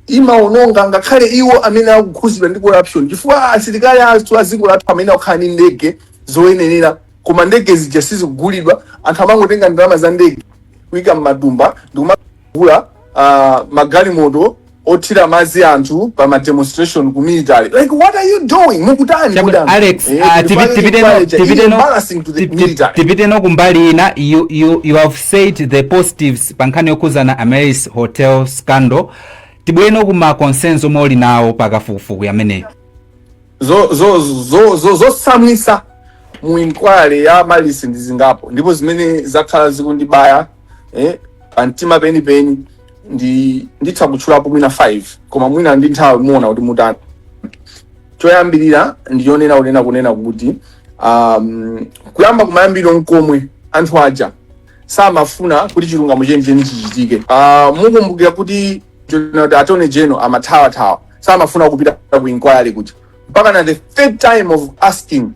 imaononga ngakhale iwo amene akukhuzidwa ndi corruption chifukwa asilikali athu a dziko lathu amayenera kukhala ndi ndege zoyenera koma ndege zija sizikugulidwa anthu amangotenga ndalama za ndege kuika m'matumba ndikumagula uh, magalimoto othira madzi anthu pa ma demonstration ku military like what are you doing mukutani Chabu- kudam Alex, eh, ah, kuti tipi- pali tipite no- inquiry cha- tipite it's no- embarrassing to the tipi- military tipite no kumbali ina you, you, you have said the positives pa nkhani yokhuzana Amaryllis hotel scandal tibwere no kuma concerns omwe uli nawo pa kafukufuku ameneyu zo- zo- zo- zo- zosamwisa mu inquiry ya Amaryllis ndi zingapo ndipo zimene zakhala zikundibaya eh, pa mtima penipeni ndi nditha kutchulapo mwina 5 koma mwina ndi nthawi muona kuti mutani choyambirira ndi chonena kunena kunena kuti um, kuyamba kumayambiriro komwe anthu aja samafuna kuti chilungamo chenicheni chichitike uh, mukumbukira kuti General- attorney general amathawathawa samafuna kupita ku inquiry kuja mpaka na the third time of asking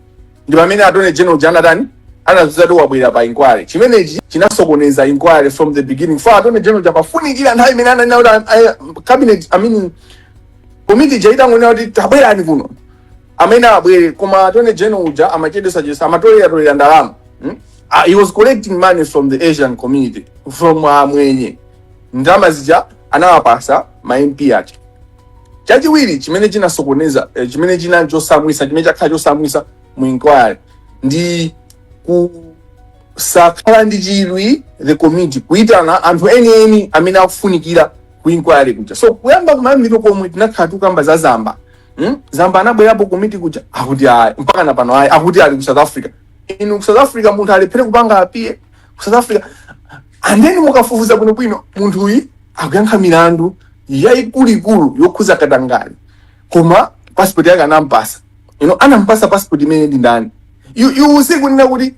ndi pamene attorney general uja anatani anadzati wabwera pa inquiry chimenechi chinasokoneza inquiry from the beginning for attorney general uja amafunikira nthawi imene ananena kuti ah, eh, cabinet i mean komiti ija itangonena kuti tabwerani kuno amayenera abwere koma attorney general uja amachedesa chesa amatolera tolera ndalama hmm? uh, he was collecting money from the asian community from amwenye ndalama zija anawapasa ma mp aja Chachiwiri chimene chinasokoneza eh, chimene chinali chosamwisa chimene chakhala chosamwisa mu inquiry ndi kusakhala ndi chidwi the committee kuitana anthu enieni amene akufunikira ku inquiry kuja so kuyamba kumayambiriro komwe tinakhala tikukamba za zamba hmm? zamba anabwerapo ku komiti kuja akuti ayi mpaka na pano ayi akuti ali ku south africa inu ku south africa munthu alephere kupanga appear ku south africa and then mukafufuza bwinobwino munthu uyu akuyankha milandu yayikuluikulu yokhuza katangale koma passport yake anampasa you know, anampasa passport imene ndi ndani you, you see kunena kuti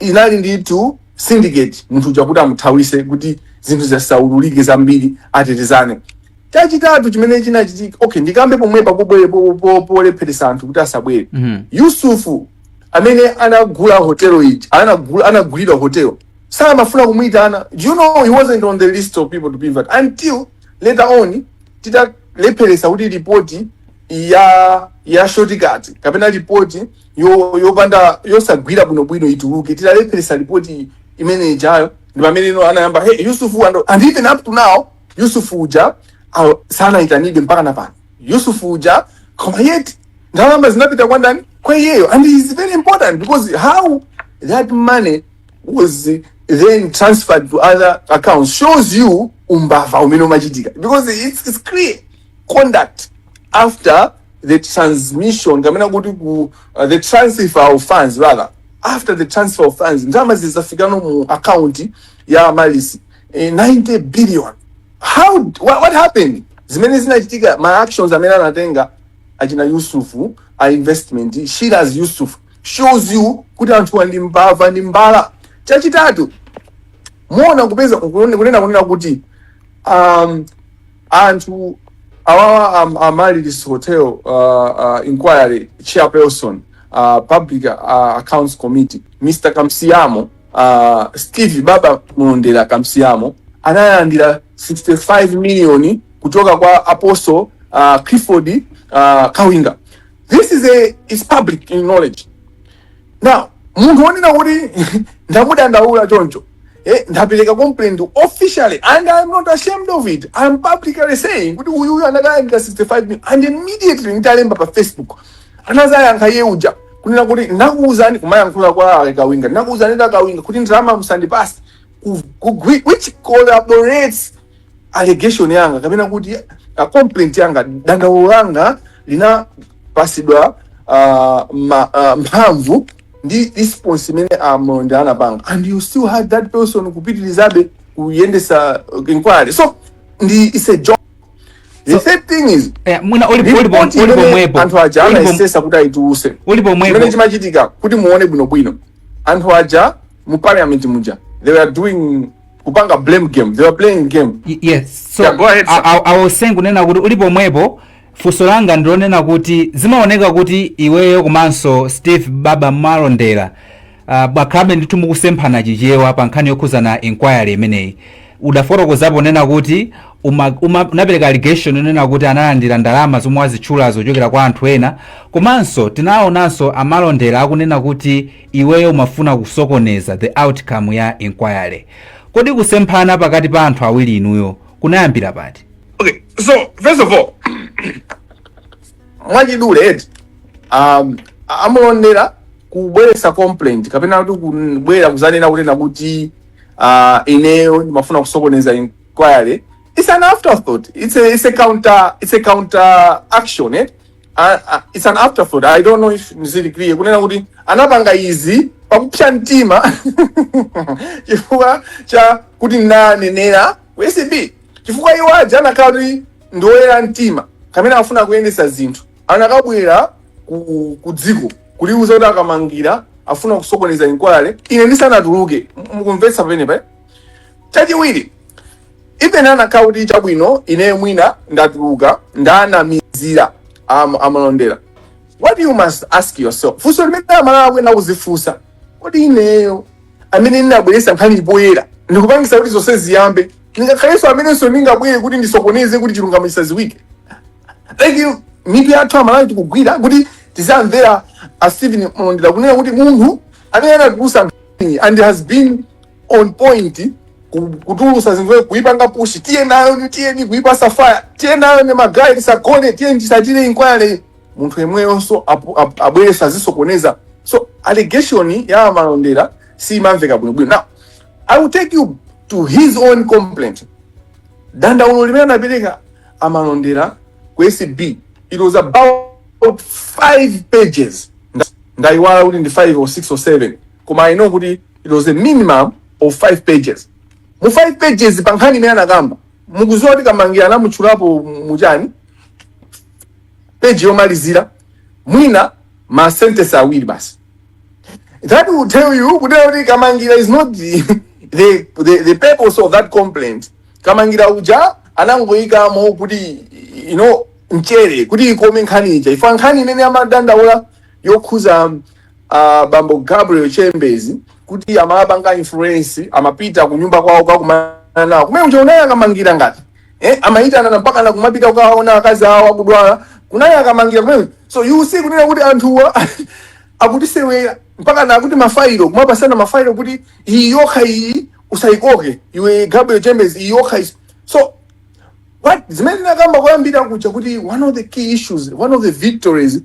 inali ndithu syndicate munthu uja kuti amuthawise kuti zinthu zisaululike zambiri atetezane chachitatu chimene chinachitika okay ndikambe pomwepa polepheresa anthu kuti asabwere Mhm. yusufu amene anagula hotel ija anagula anagulidwa hotel samafuna kumuitana do you know he wasn't on the list of people to be invited until later on titalepheresa kuti ripoti ya ya shortcut kapena ripoti yo- yopanda yosagwira bwinobwino ituluke titalepheresa ripoti imene ijayo ndi pamene anayamba hey yusufu and, and even up to now yusufu uja uh, sanaitanidwe mpaka na pano yusufu uja koma yet ndalama zinapita kwa ndani kwa iyeyo and it is very important because how that money was then transferred to other accounts shows you umbava umene umachitika because it's, it's clear conduct after the transmission kapena kuti ku uh, the transfer of funds rather after the transfer of funds ndalama zizafikano mu account ya Amaryllis eh, 90 billion how what, what happened zimene zinachitika ma actions amene anatenga achina yusuf a investment shiraz yusuf shows you kuti anthuwa ndi mbava ndi mbala chachitatu muona kupeza kunene- kunena kunena kuti um, anthu awawa um, Amaryllis hotel uh, uh, inquiry chairperson uh, public uh, accounts committee mr kamsiamo uh, steve baba malondera kamsiamo analandira 65 million kuchoka kwa apostle uh, clifford uh, kawinga this is a is public knowledge now munthu wonena kuti ndamudandaula choncho eh, ndapereka complaint officially and i'm not ashamed of it i'm publicly saying kuti uyu uyu anakalandira 65 million and immediately nditalemba pa facebook anazayankha iye uja kunena kuti ndakuuzani kumayankhula kwa a kawinga ndakuuzani a kawinga kuti ndalama musandipasi ku- ku- which corroborates allegation yanga kapena kuti a complaint yanga dandaulo langa linapasidwa uh, ma, uh, mphamvu ndi response imene a Malondera anapanga and you still had that person kupitilizabe kuyendesa uh, inquiry so it's a job the So- third thing is Eh, mwina uli- uli pom- report uli imene pomwepo anthu aja Uli pom- anayesesa kuti ayituluse uli chimene chimachitika kuti muone bwinobwino anthu aja mu parliament muja they were doing kupanga blame game they were playing game Y- yes so Yeah, go ahead, sir. I, I, I was saying kunena kuti uli pomwepo funso langa ndilonena kuti zimaoneka kuti iweyo komanso steve baba malondera uh, mwakhala ndithu mukusemphana chichewa pa nkhani yokhuza inquiry imeneyi udafotokozapo kunena kuti uma- uma- unapereka allegation yonena kuti analandira ndalama zomwe wazitchula zochokera kwa anthu ena komanso tinaonanso amalondera akunena kuti iweyo umafuna kusokoneza the outcome ya inquiry kodi kusemphana pakati pa anthu awiri inuyo kunayambira pati Okay, so first of all, mwachidule eti um, amalondera kubweresa complaint kapena kuti kubwera kuzanena kunena kuti uh, ineyo ndimafuna kusokoneza inquiry it's an afterthought it's a, it's a counter it's a counter action eh? a- a- it's an afterthought i don't know if ndili clear kunena kuti anapanga izi pakupsa mtima chifukwa cha kuti nanenera ku acb chifukwa iwo aja anakhala kuti ndi oyera mtima kamene afuna kuyendesa zinthu anakabwera ku, ku dziko kuliuza kuti kamangira afuna kusokoneza inquiry ine ndisanatuluke M- mukumvetsa pamenepa eh? chachiwiri even anakhala kuti chabwino ineyo mwina ndatuluka ndanamizira am- amalondera what you must ask yourself funso limene amalawi akuyenera kuzifunsa kodi ineyo amene ndinabweretsa nkhani poyera ndikupangisa kuti zonse ziyambe ndingakhalenso amenenso ndingabwere kuti ndisokoneze kuti chilungamo chisaziwike like mitu yathu amalawi ikugwira kuti tizamvera a stephen malondera kunena kuti munthu amene anatulusa nkhani and has been on point ku- kutulusa zinthu kuipanga push tiyenayoni tiyeni kuipasa fire tiyenayoni magaye tisagone tiyeni tisatire inquiry munthu yemweyonso apu- ap- abwere azisokoneza so allegation ya amalondera simamveka bwinobwino now i will take you to his own complaint dandaulo limene anapereka amalondera ku acb it was about five pages Nda- ndaiwala kuti ndi five or six or seven koma i know kuti it was a minimum of 5 pages mu 5 pages pa nkhani imene anakamba mukuziwa kuti kamangira anamutchulapo muchani peji yomalizira mwina ma sentence awiri basi that will tell you kuti kuti kamangira is not the, the, the, the purpose of that complaint kamangira uja anangoyikamo kuti you know mchere kuti ikome nkhani ija if nkhani imene amadandaula yokhuza a bambo Gabriel Chembezi kuti amapanga influence amapita kunyumba kwawo kakumana nawo kumene kuja unayi a Kamangila ngati eh, amayitanana mpaka na kumapita kukawaona akazi awo akudwala kunayi a Kamangila kumene so you see kunena kuti anthuwa akutisewera mpaka na akuti mafailo kumapasana mafailo kuti iyi yokha iyi usayikoke iwe Gabriel Chembezi iyi yokha is- so what zimene nakamba kuyambira kuja kuti one of the key issues one of the victories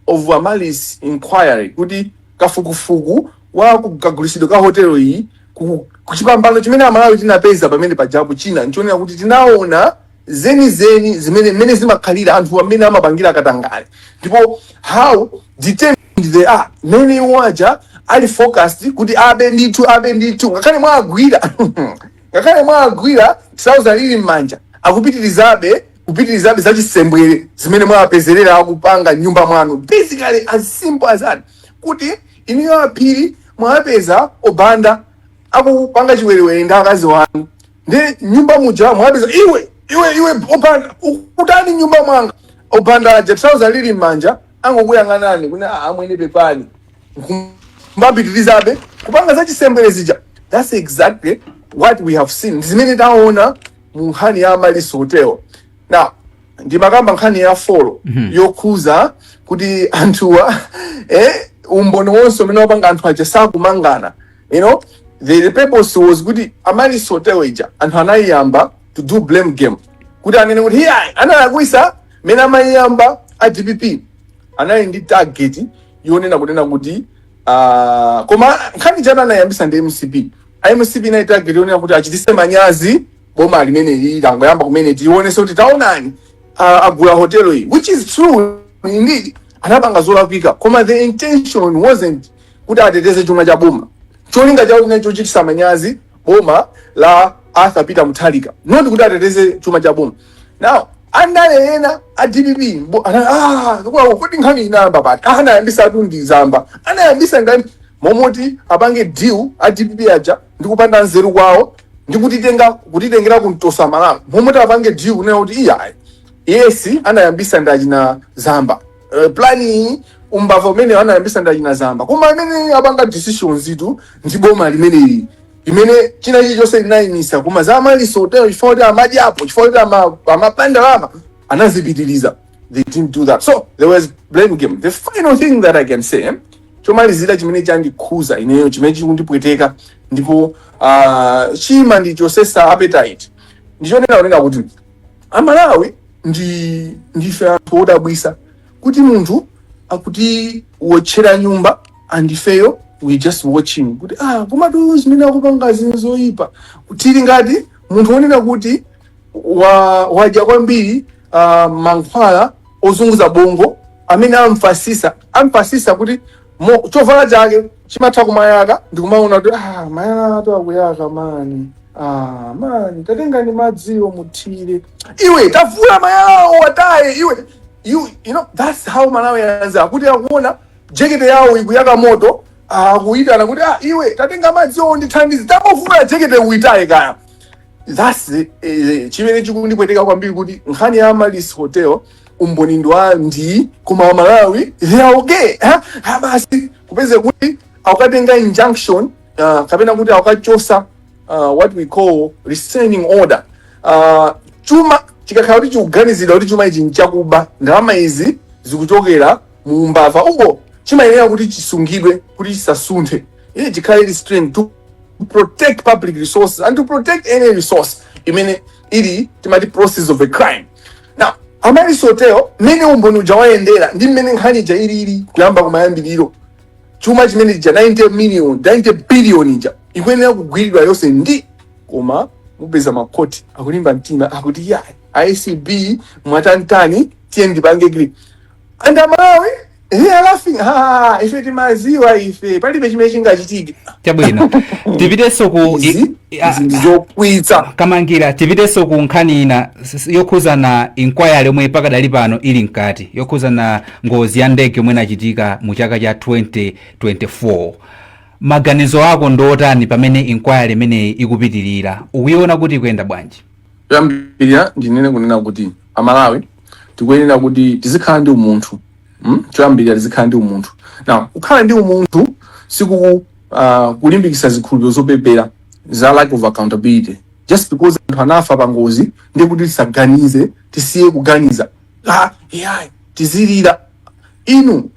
of Amaryllis inquiry kuti kafukufuku wa ku- kagulitsidwe ka hotelo iyi ku- ku chipambano chimene amalawi tinapeza pamene pajapo china nchonena kuti tinaona zenizeni zimene mmene zimakhalira anthu amene amapangira katangale ndipo how determined they are mmene iwo aja ali focused kuti abe ndithu abe ndithu ngakhale mwagwira ngakhale mwagwira trouser lili m'manja akupitirizabe kupitilizabe za chisembwere zimene mwawapezerera akupanga nyumba mwanu basically as simple as that kuti inuyo a Phiri mwawapeza o Banda akupanga chiwerewere ndi akazi wanu ndi nyumba muja mwawapeza iwe iwe iwe o Banda ukutani nyumba mwanga o Banda aja trouser lili m'manja angokuyang'anani kuti "Ah, amwene pepani mbapitirizabe kupanga za chisembwere zija that's exactly what we have seen Ndi zimene taona mu nkhani ya Amaryllis Hotel. Now, ndimakamba nkhani ya folo yokhuza kuti anthuwa eh, umboni wonse umene wapanga anthu aja sakumangana you know the purpose was kuti Amaryllis Hotel ija anthu anayiyamba to do blame game kuti anene kuti hiya analakwisa mene amayiyamba a dpp anali ndi target yonena kunena kuti ah, koma nkhani ija anayambisa ndi mcp A mcp inali target yonena kuti achitise manyazi boma limeneli langoyamba kumene tionese kuti taonani ah, agula hotelo iyi which is true indeed anapanga zolakwika koma the intention wasn't kuti ateteze chuma cha boma cholinga chawo chinali chochitisa manyazi boma la arthur peter mutharika not kuti ateteze chuma cha boma now andale ena a dpp mbo- ana- ah, kwa- kodi nkhani inayamba pati Ah, anayambisatu ndi zamba anayambisa ngani momoti apange deal a dpp aja ndi kupanda nzeru kwawo ndi kutitenga kutitengera kumtoso amalawi momoti apange deal kunena kuti iyayi yes anayambisa ndi achina zamba uh, plani umbava umene anayambisa ndi achina zamba koma amene apanga decisions itu ndi boma limeneli limene china chilichonse linayimisa koma za Amaryllis hotelo chifukwa kuti amadyapo chifukwa kuti ama- amaba ndalama anazipitiriza they didn't do that so there was blame game the final thing that i can say chomalizira chimene chandikhuza ineyo chimene chikundipweteka ndipo ah, chimandichosesa appetite ndichonena kunena kuti amalawi ndi ndife anthu odabwisa kuti munthu akutiwotchera nyumba and ifeyo we just watching kuti ah komatu zimene akupangazi nzoyipa tili ngati munthu wonena kuti wa, wadya kwambiri uh, mankhwala ozunguza bongo amene amfasisa amfasisa kuti mo, chovala chake chimatha kumayaka ndikumaona kuti ah, mayalatu akuyaka mani ah, mani tatengani madziwo muthire iwe tavula mayalawo wataye iwe you, you know, that's how malawi ianz are kuti akuona jekete yawo ikuyaka moto ah, akuyitana kuti ah, iwe tatenga madziwo ndithandize tangovula jekete uyitaye kaya that's eh, chimene chikundipweteka kwambiri kuti nkhani ya amaryllis hotel umboni ndi wa ndi koma amalawi they are okay ha ha basi upeze kuti akukatenga injunction uh, kapena kuti akukachosa uh, what we call restraining order uh, chuma chikakhala kuti chikuganizidwa kuti chuma ichi nchakuba ndalama izi zikuchokera mu umbava uko chimayenera kuti chisungidwe kuti chisasunthe chikhale restrained to protect public resources and to protect any resource imene ili timati proceeds of a crime now amaryllis hotel mmene umboni uja wayendera ndi mmene nkhani ija ilili kuyamba kumayambiriro chuma chimene chija 90 million 90 billion ija ikuyenera kugwiridwa yonse ndi koma mupeza makoti akulimba mtima akuti ayi acb mwatani tani tiye ndipange gri and amalawi they are laughing ha ife timaziwa ife palibe chimene chingachitike chabwino tipitenso ku i- izi i- a- izi ndizokwiyitsa kamangila tipitenso ku nkhani ina s- s- yokhuzana inquiry yomwe pakadali pano ili mkati yokhuzana ngozi ya ndege yomwe inachitika mu chaka cha 2024 maganizo ako ndi otani pamene inquiry imeneyi ikupitirira ukuiona kuti ikuyenda bwanji choyambirira ndinene kunena kuti amalawi tikuyenera kuti tizikhala ndi umunthu mm? choyambirira tizikhala ndi umunthu now kukhala ndi umunthu sikuku uh, kulimbikitsa zikhulupiriro zopepera za lack of accountability just because anthu anafa pa ngozi ndiye kuti tisaganize tisiye kuganiza ah, yeah, tizilira inu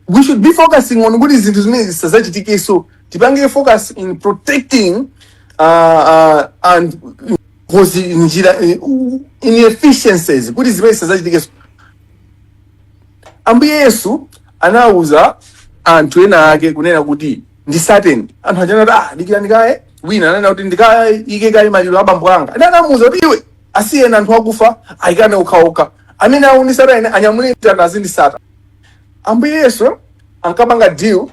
we should be focusing on kuti zinthu zimenezi zisadzachitikenso tipange focus in protecting uh, uh, and closing njira eh, u- inefficiencies kuti zimenezi zisadzachitikenso ambuye yesu anawuza anthu ena ake kunena kuti ndisateni anthu aja anati ah dikirani kaye wina ananena kuti ndikayike kaye maliro a bambo anga anamuwuza kuti iwe asiyeni anthu akufa ayikane okhaokha amene akundisata ine anyamule mtanda azindisata ambuye yesu ankapanga deal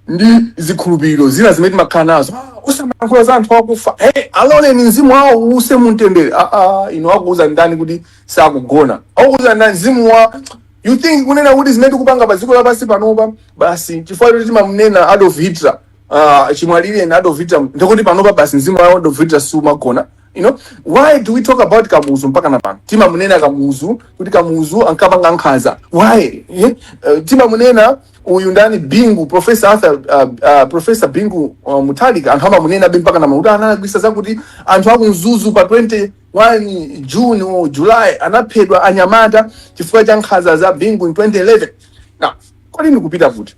ndi zikhulupiriro zina zimene timakhala nazo Ah, usamayankhula za anthu akufa hey, aloleni mzimu wawo uuse mumtendere ah, ah, inu akuuza ndani kuti sakugona akuuza ndani mzimu wa you think kunena kuti zimene tikupanga pa dziko lapansi panopa basi chifukwa choti timamnena adolf hitler ah, chimwalireni adolf hitler ndikuti panopa basi mzimu wa adolf hitler sumagona You know, why do we talk about Kamuzu mpaka na pano? Timamunena Kamuzu, kuti Kamuzu ankapanga nkhaza. Why? Yeah? Uh, timamunena uyu ndani Bingu, Professor Arthur, uh, uh, Professor Bingu uh, Mutharika anthu amamunenabe mpaka ena amati anagwisa zakuti anthu aku Mzuzu pa 21 June or July anaphedwa anyamata chifukwa cha nkhaza za Bingu in 2011. Now, kodi ndikupita kuti?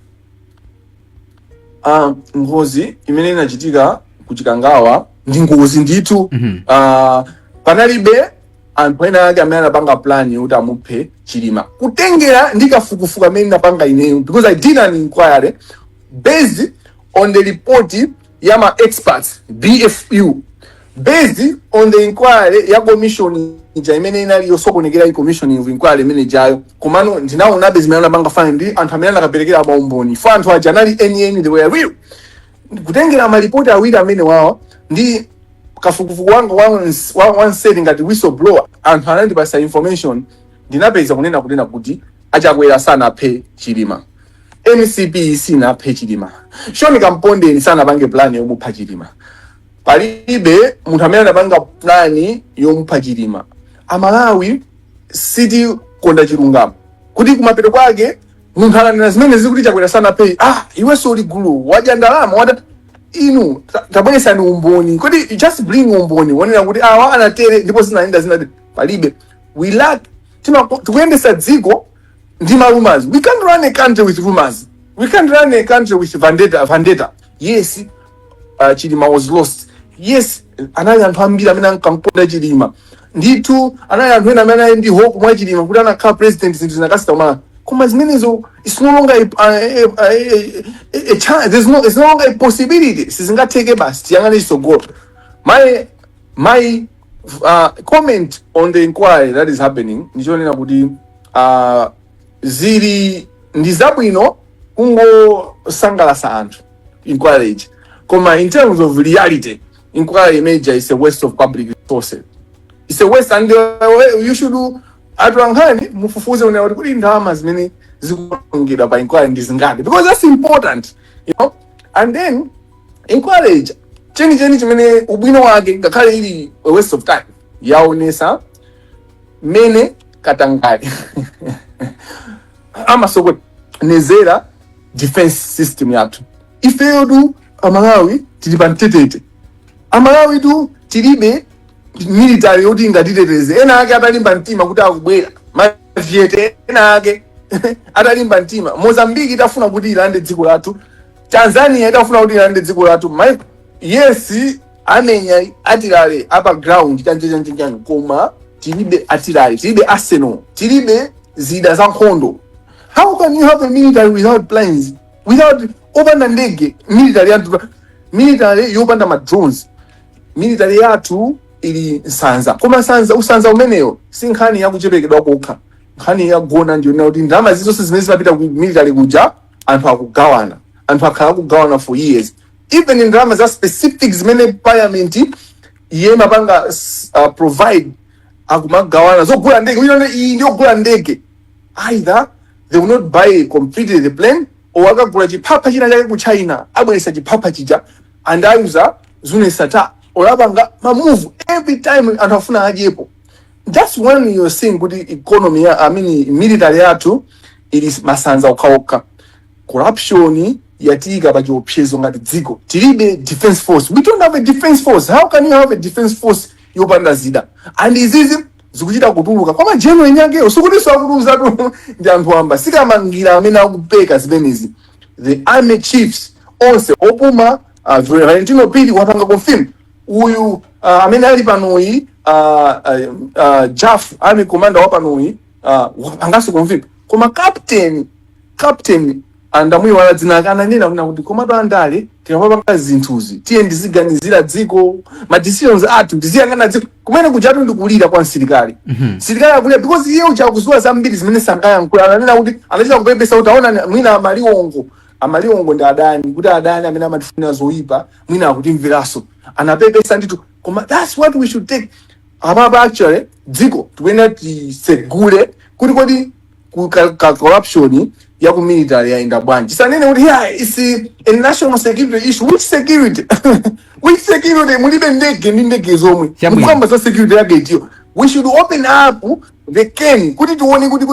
Ah, ngozi imene inachitika ku chikangawa ndi ngozi ndithu Mhm. Ah, panalibe anthu ena ake amene anapanga plan yoti amuphe chilima kutengera ndi kafukufuku amene ndinapanga ineyo because i did an inquiry based on the report ya ma experts BFU based on the inquiry ya commission ija imene inali yosokonekera commission of inquiry imene ijayo komano ndinaonabe zimene anapanga fine ndi anthu amene anakaperekera maumboni fo anthu aja anali enieni they were real kutengera malipoti awiri amenewawa ndi kafukufuku wanga wa ns- wa- wanseri ngati whistleblower anthu anandipasa information ndinapeza kunena kunena kuti achakwera sanaphe chilima Mcp sinaphe chilima shoni kampondeni sanapange plan yomupha chilima palibe munthu amene anapanga plan yomupha chilima amalawi sitikonda chilungamo kuti kumapeto kwake munthu ukanena zimenezi kuti chakwera sanaphe ah iwenso uli gulu wadya ndalama wada inu ta- tabweretsani umboni kodi just bring umboni wonena kuti awa anatere ndipo zinayenda zinati palibe we lack timako- tikuyendetsa dziko ndi ma rumors we can't run a country with rumors we can't run a country with vendetta vendetta yes uh, chilima was lost yes anali anthu ambiri amene ankamkonda chilima ndithu anali anthu ena amene anali ndi hope mwa chilima kuti akanakhala president zinthu zinakasintha kuMalawi koma zimenezo it's no longer a, a, a, a, a, a chance there's no, it's no longer a possibility sizingatheke basi tiyang'ane chitsogolo my my uh, comment on the inquiry that is happening ndichonena kuti uh, zili ndi zabwino kungosangalatsa anthu inquiry iji koma in terms of reality inquiry imene ija is a waste of public resources it's a waste and uh, you should atolankhani mufufuze kunena kuti kodi ndalama zimene zikuonongedwa pa inquiry ndi zingati because that's important you know and then inquiry chenicheni chimene ubwino wake ngakhale ili a waste of time yaonesa mmene katangale amasokonezera defense system yathu ifeyotu amalawi tili pa mtetete amalawitu tilibe military yoti ingatiteteze ena ake atalimba mtima kuti akubwera maviyete ena ake atalimba mtima Mozambique itafuna kuti ilande dziko lathu Tanzania itafuna kuti ilande dziko lathu yes amenya atilale apa ground chanchanchanchan koma tilibe atilale tilibe arsenal tilibe zida za nkhondo how can you have a military without planes without opanda ndege military yathu military yopanda ma drones military yathu ili nsanza koma usanza umeneyo si nkhani yakuchepekedwa kokha nkhani yagona ndiyonena kuti ndalama zizonse zimene zimapita ku military kuja anthu akugawana anthu akhala akugawana for years even ndalama za specific zimene parliament imapanga s- uh, provide akumagawana zogula ndege wina ndi- iyi ndiyogula ndege either they will not buy completely the plane or akagula chiphapha china chake ku china abweresa chiphapha chija ndi kuwuza zimenezo olo apanga mamuvu every time anthu afuna adyepo that's when you're seeing kuti economy ya, I mean military yathu ili masanza okhaokha corruption yatiika pa chiopsezo ngati dziko tilibe defense force we don't have a defense force how can you have a defense force yopanda zida and izizi zikuchita kutuluka koma general yakeyo sikutinso akutiuzatu ndi anthu wamba si Kamangila amene akupeka zimenezi the army chiefs onse opuma uh, Valentino Phiri wapanga confirm uyu uh, amene ali panoyi uh, uh, uh, Jaffu army commander wa panoyi Ah, wapangaso confirm koma captain captain ndamuyiwala dzina ake ananena kuna kuti komatu andale tikamapanga zinthuzi tiyeni tiziganizira dziko ma decisions athu tiziyang'ana dziko kumene kujatu ndikulira kwa msilikali msilikali akulira because iye uja akuziwa zambiri zimene sangayankhula ananena kuti anachita kupepesa kuti aona mwina amaliwongo amaliwongo ndi adani kuti adani amene amatifunira zoyipa mwina akutimveranso anapepesa ndithu koma that's what we should take apapa actually dziko tikuyenera tisegule kuti kodi ku- ka- ka- corruption ya ku military yayenda bwanji asanene kuti yeah, it's a national security issue which security which security mulibe ndege ndi ndege zomwe mukukamba za security yake itiyo we should open up the can kuti tione kuti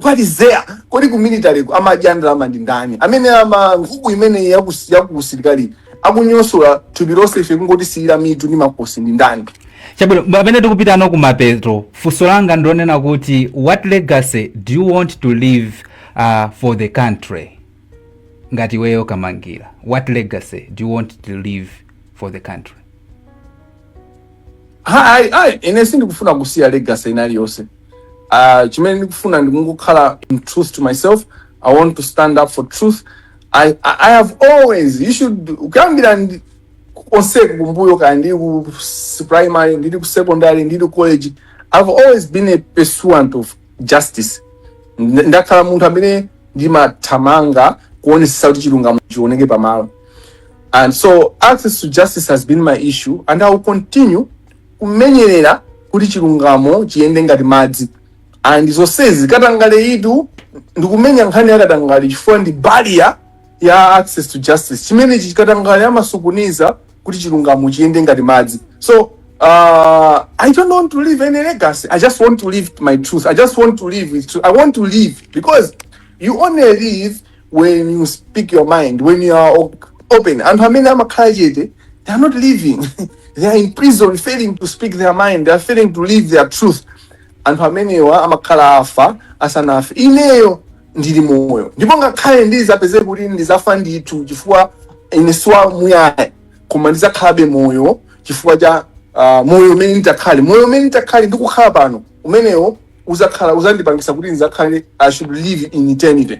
what is there kodi ku military ku amadya ndalama ndi ndani amene amadya nkhuku imene yakus- yakusilikali akunyosola thupi lonse ife kungotisiyira mitu ndi makosi ndi ndani chabwino pamene tikupita no kumapeto funso langa ndilonena kuti what legacy do you want to leave uh, for the country ngati iweyo Kamangila what legacy do you want to leave for the country Hai, hai, ine sindikufuna kusiya legacy inali yonse. Uh, chimene ndikufuna ndikungokhala in truth to myself. I want to stand up for truth. I, I, I have always, you should, ukuyambira ndi- konse kumbuyo kaya ndili ku s- primary, ndili ku secondary, ndili ku college, I've always been a pursuant of justice. Nd- Ndakhala munthu amene ndimathamanga kuonesesa kuti chilungamo chioneke pamalo. And so access to justice has been my issue and I will continue kumenyerera kuti chilungamo chiyende ngati madzi and zonsezi katangale itu ndikumenya nkhani yakatangale chifukwa ndi barrier ya access to justice chimene chikatangale amasukuniza kuti chilungamo chiyende ngati madzi so uh, i don't want to leave any legacy i just want to live my truth i just want to live with truth. i want to live because you only live when you speak your mind when you are op- open anthu amene amakhala chete they are not living they are in prison failing to speak their mind they are failing to live their truth anthu amenewa amakhala afa asanafe ineyo ndili moyo ndipo ngakhale ndizapeze kuti ndizafa ndithu chifukwa ine siwa muyaya koma ndizakhalabe moyo chifukwa cha uh, moyo umene nditakhale moyo umene nditakhale ndikukhala pano umenewo uzakhala uzandipangisa kuti ndizakhale i should live in eternity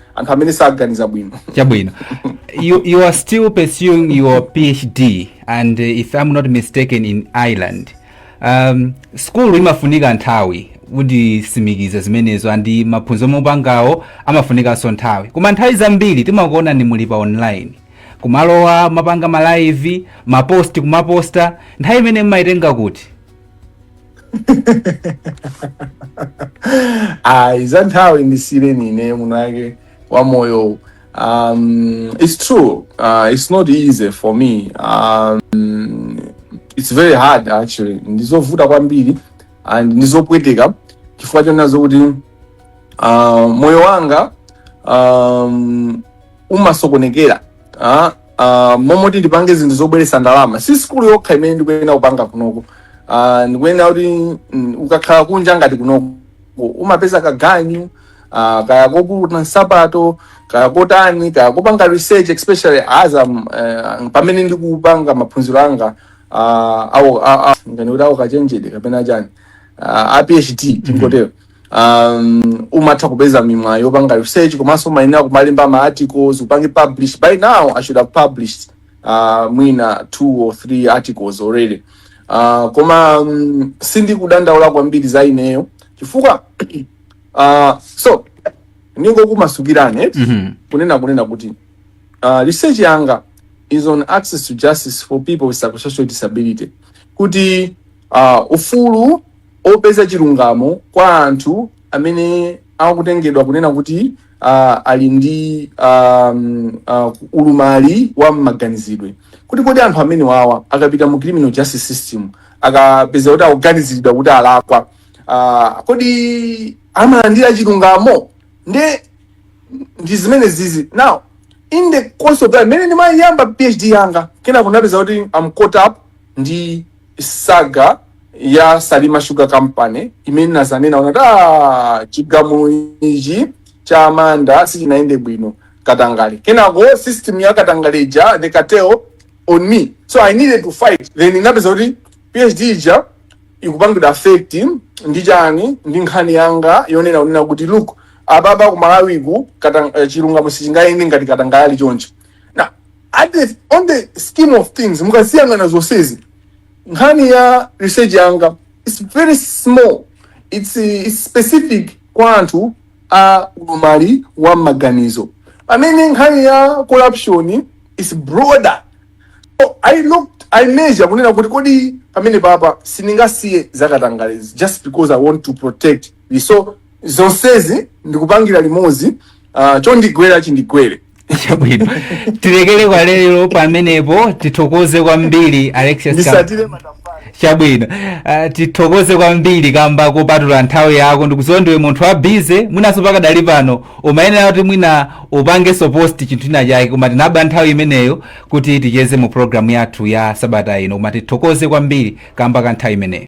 anthu amene saganiza bwino chabwino you, you are still pursuing your phd and uh, if i'm not mistaken in ireland um, school imafunika nthawi munditsimikizira zimenezo and maphunziro omwe mukupangawo amafunikanso nthawi koma nthawi zambiri timakuonani muli pa online kumalowa kumapanga malive mapost kumaposta nthawi imene mmayitenga kuti ayi za nthawi ndisiyireni ine mwinake wa moyo um, it's true uh, it's not easy for me um, it's very hard actually ndizovuta kwambiri and ndizopweteka chifukwa chonena kuti uh, moyo wanga um, umasokonekera ah, ah, momoti ndipange zinthu zobweretsa ndalama si sikulu yokha imene ndikuyenera kupanga kunoko ah, ndikuyenera kuti mm, ukakhala kunja ngati kunoko umapeza kaganyu ah, kaya koputa nsapato kaya kotani kaya kopanga research especially as I'm, eh, pamene ndikupanga maphunziro anga ah, awo a- a- ngati kuti awo kachenjede kapena chani ah, a phd tingotero um, umatha kupeza mimwayi yopanga research komanso umayenera kumalemba ma articles upange publish by now i should have published uh, mwina two or three articles already uh, koma um, sindikudandaula kwambiri za ineyo chifukwa uh, so ndingokumasukirani eti? Mhm. kunena kunena kuti uh, research yanga is on access to justice for people with psychosocial disability kuti uh, ufulu opeza chilungamo kwa anthu amene akutengedwa kunena kuti uh, ali ndi um, uh, ulumali wa mmaganizidwe kuti kodi anthu amene wawa akapita mu criminal justice system akapezeka kuti akuganiziridwa kuti alakwa uh, kodi amalandira chilungamo nde ndi zimene zizi now in the course of that mmene ndimayamba phd yanga kenako napeza kuti I'm caught up ndi saga ya salima sugar company imene nazanena kunati "Ah, chigamulo ichi cha a Manda sichinayende bwino katangale kenako system ya katangale ija they cartel on me so i needed to fight then inapeza kuti phd ija ikupangidwa affect ndi chani ndi nkhani yanga yonena kunena kuti look apapa ku malawiku katang- eh, chilungamo sichingayende ngati katangale ali choncho Now, at the, on the scheme of things mukaziyang'ana zonsezi nkhani ya research yanga is very small its, its specific kwa anthu a ulumali wa mmaganizo pamene nkhani ya corruption is broader so i looked i measure kunena kuti kodi pamene papa sindingasiye zakatangalezi just because i want to protect the so zonsezi ndikupangira limodzi uh, chondigwera chindigwere chabwino tilekere kwa lero pamenepo tithokoze kwambiri alexius Kam- ndisatire matafari chabwino uh, tithokoze kwambiri kamba kopatula nthawi yako ndikuziwa ndiwe munthu wa busy mwinanso pakadali pano umayenera kuti mwina upangenso post chinthu china chake koma tinaba nthawi imeneyo kuti ticheze mu programu yathu ya sabata ino koma tithokoze kwambiri kamba ka nthawi imeneyo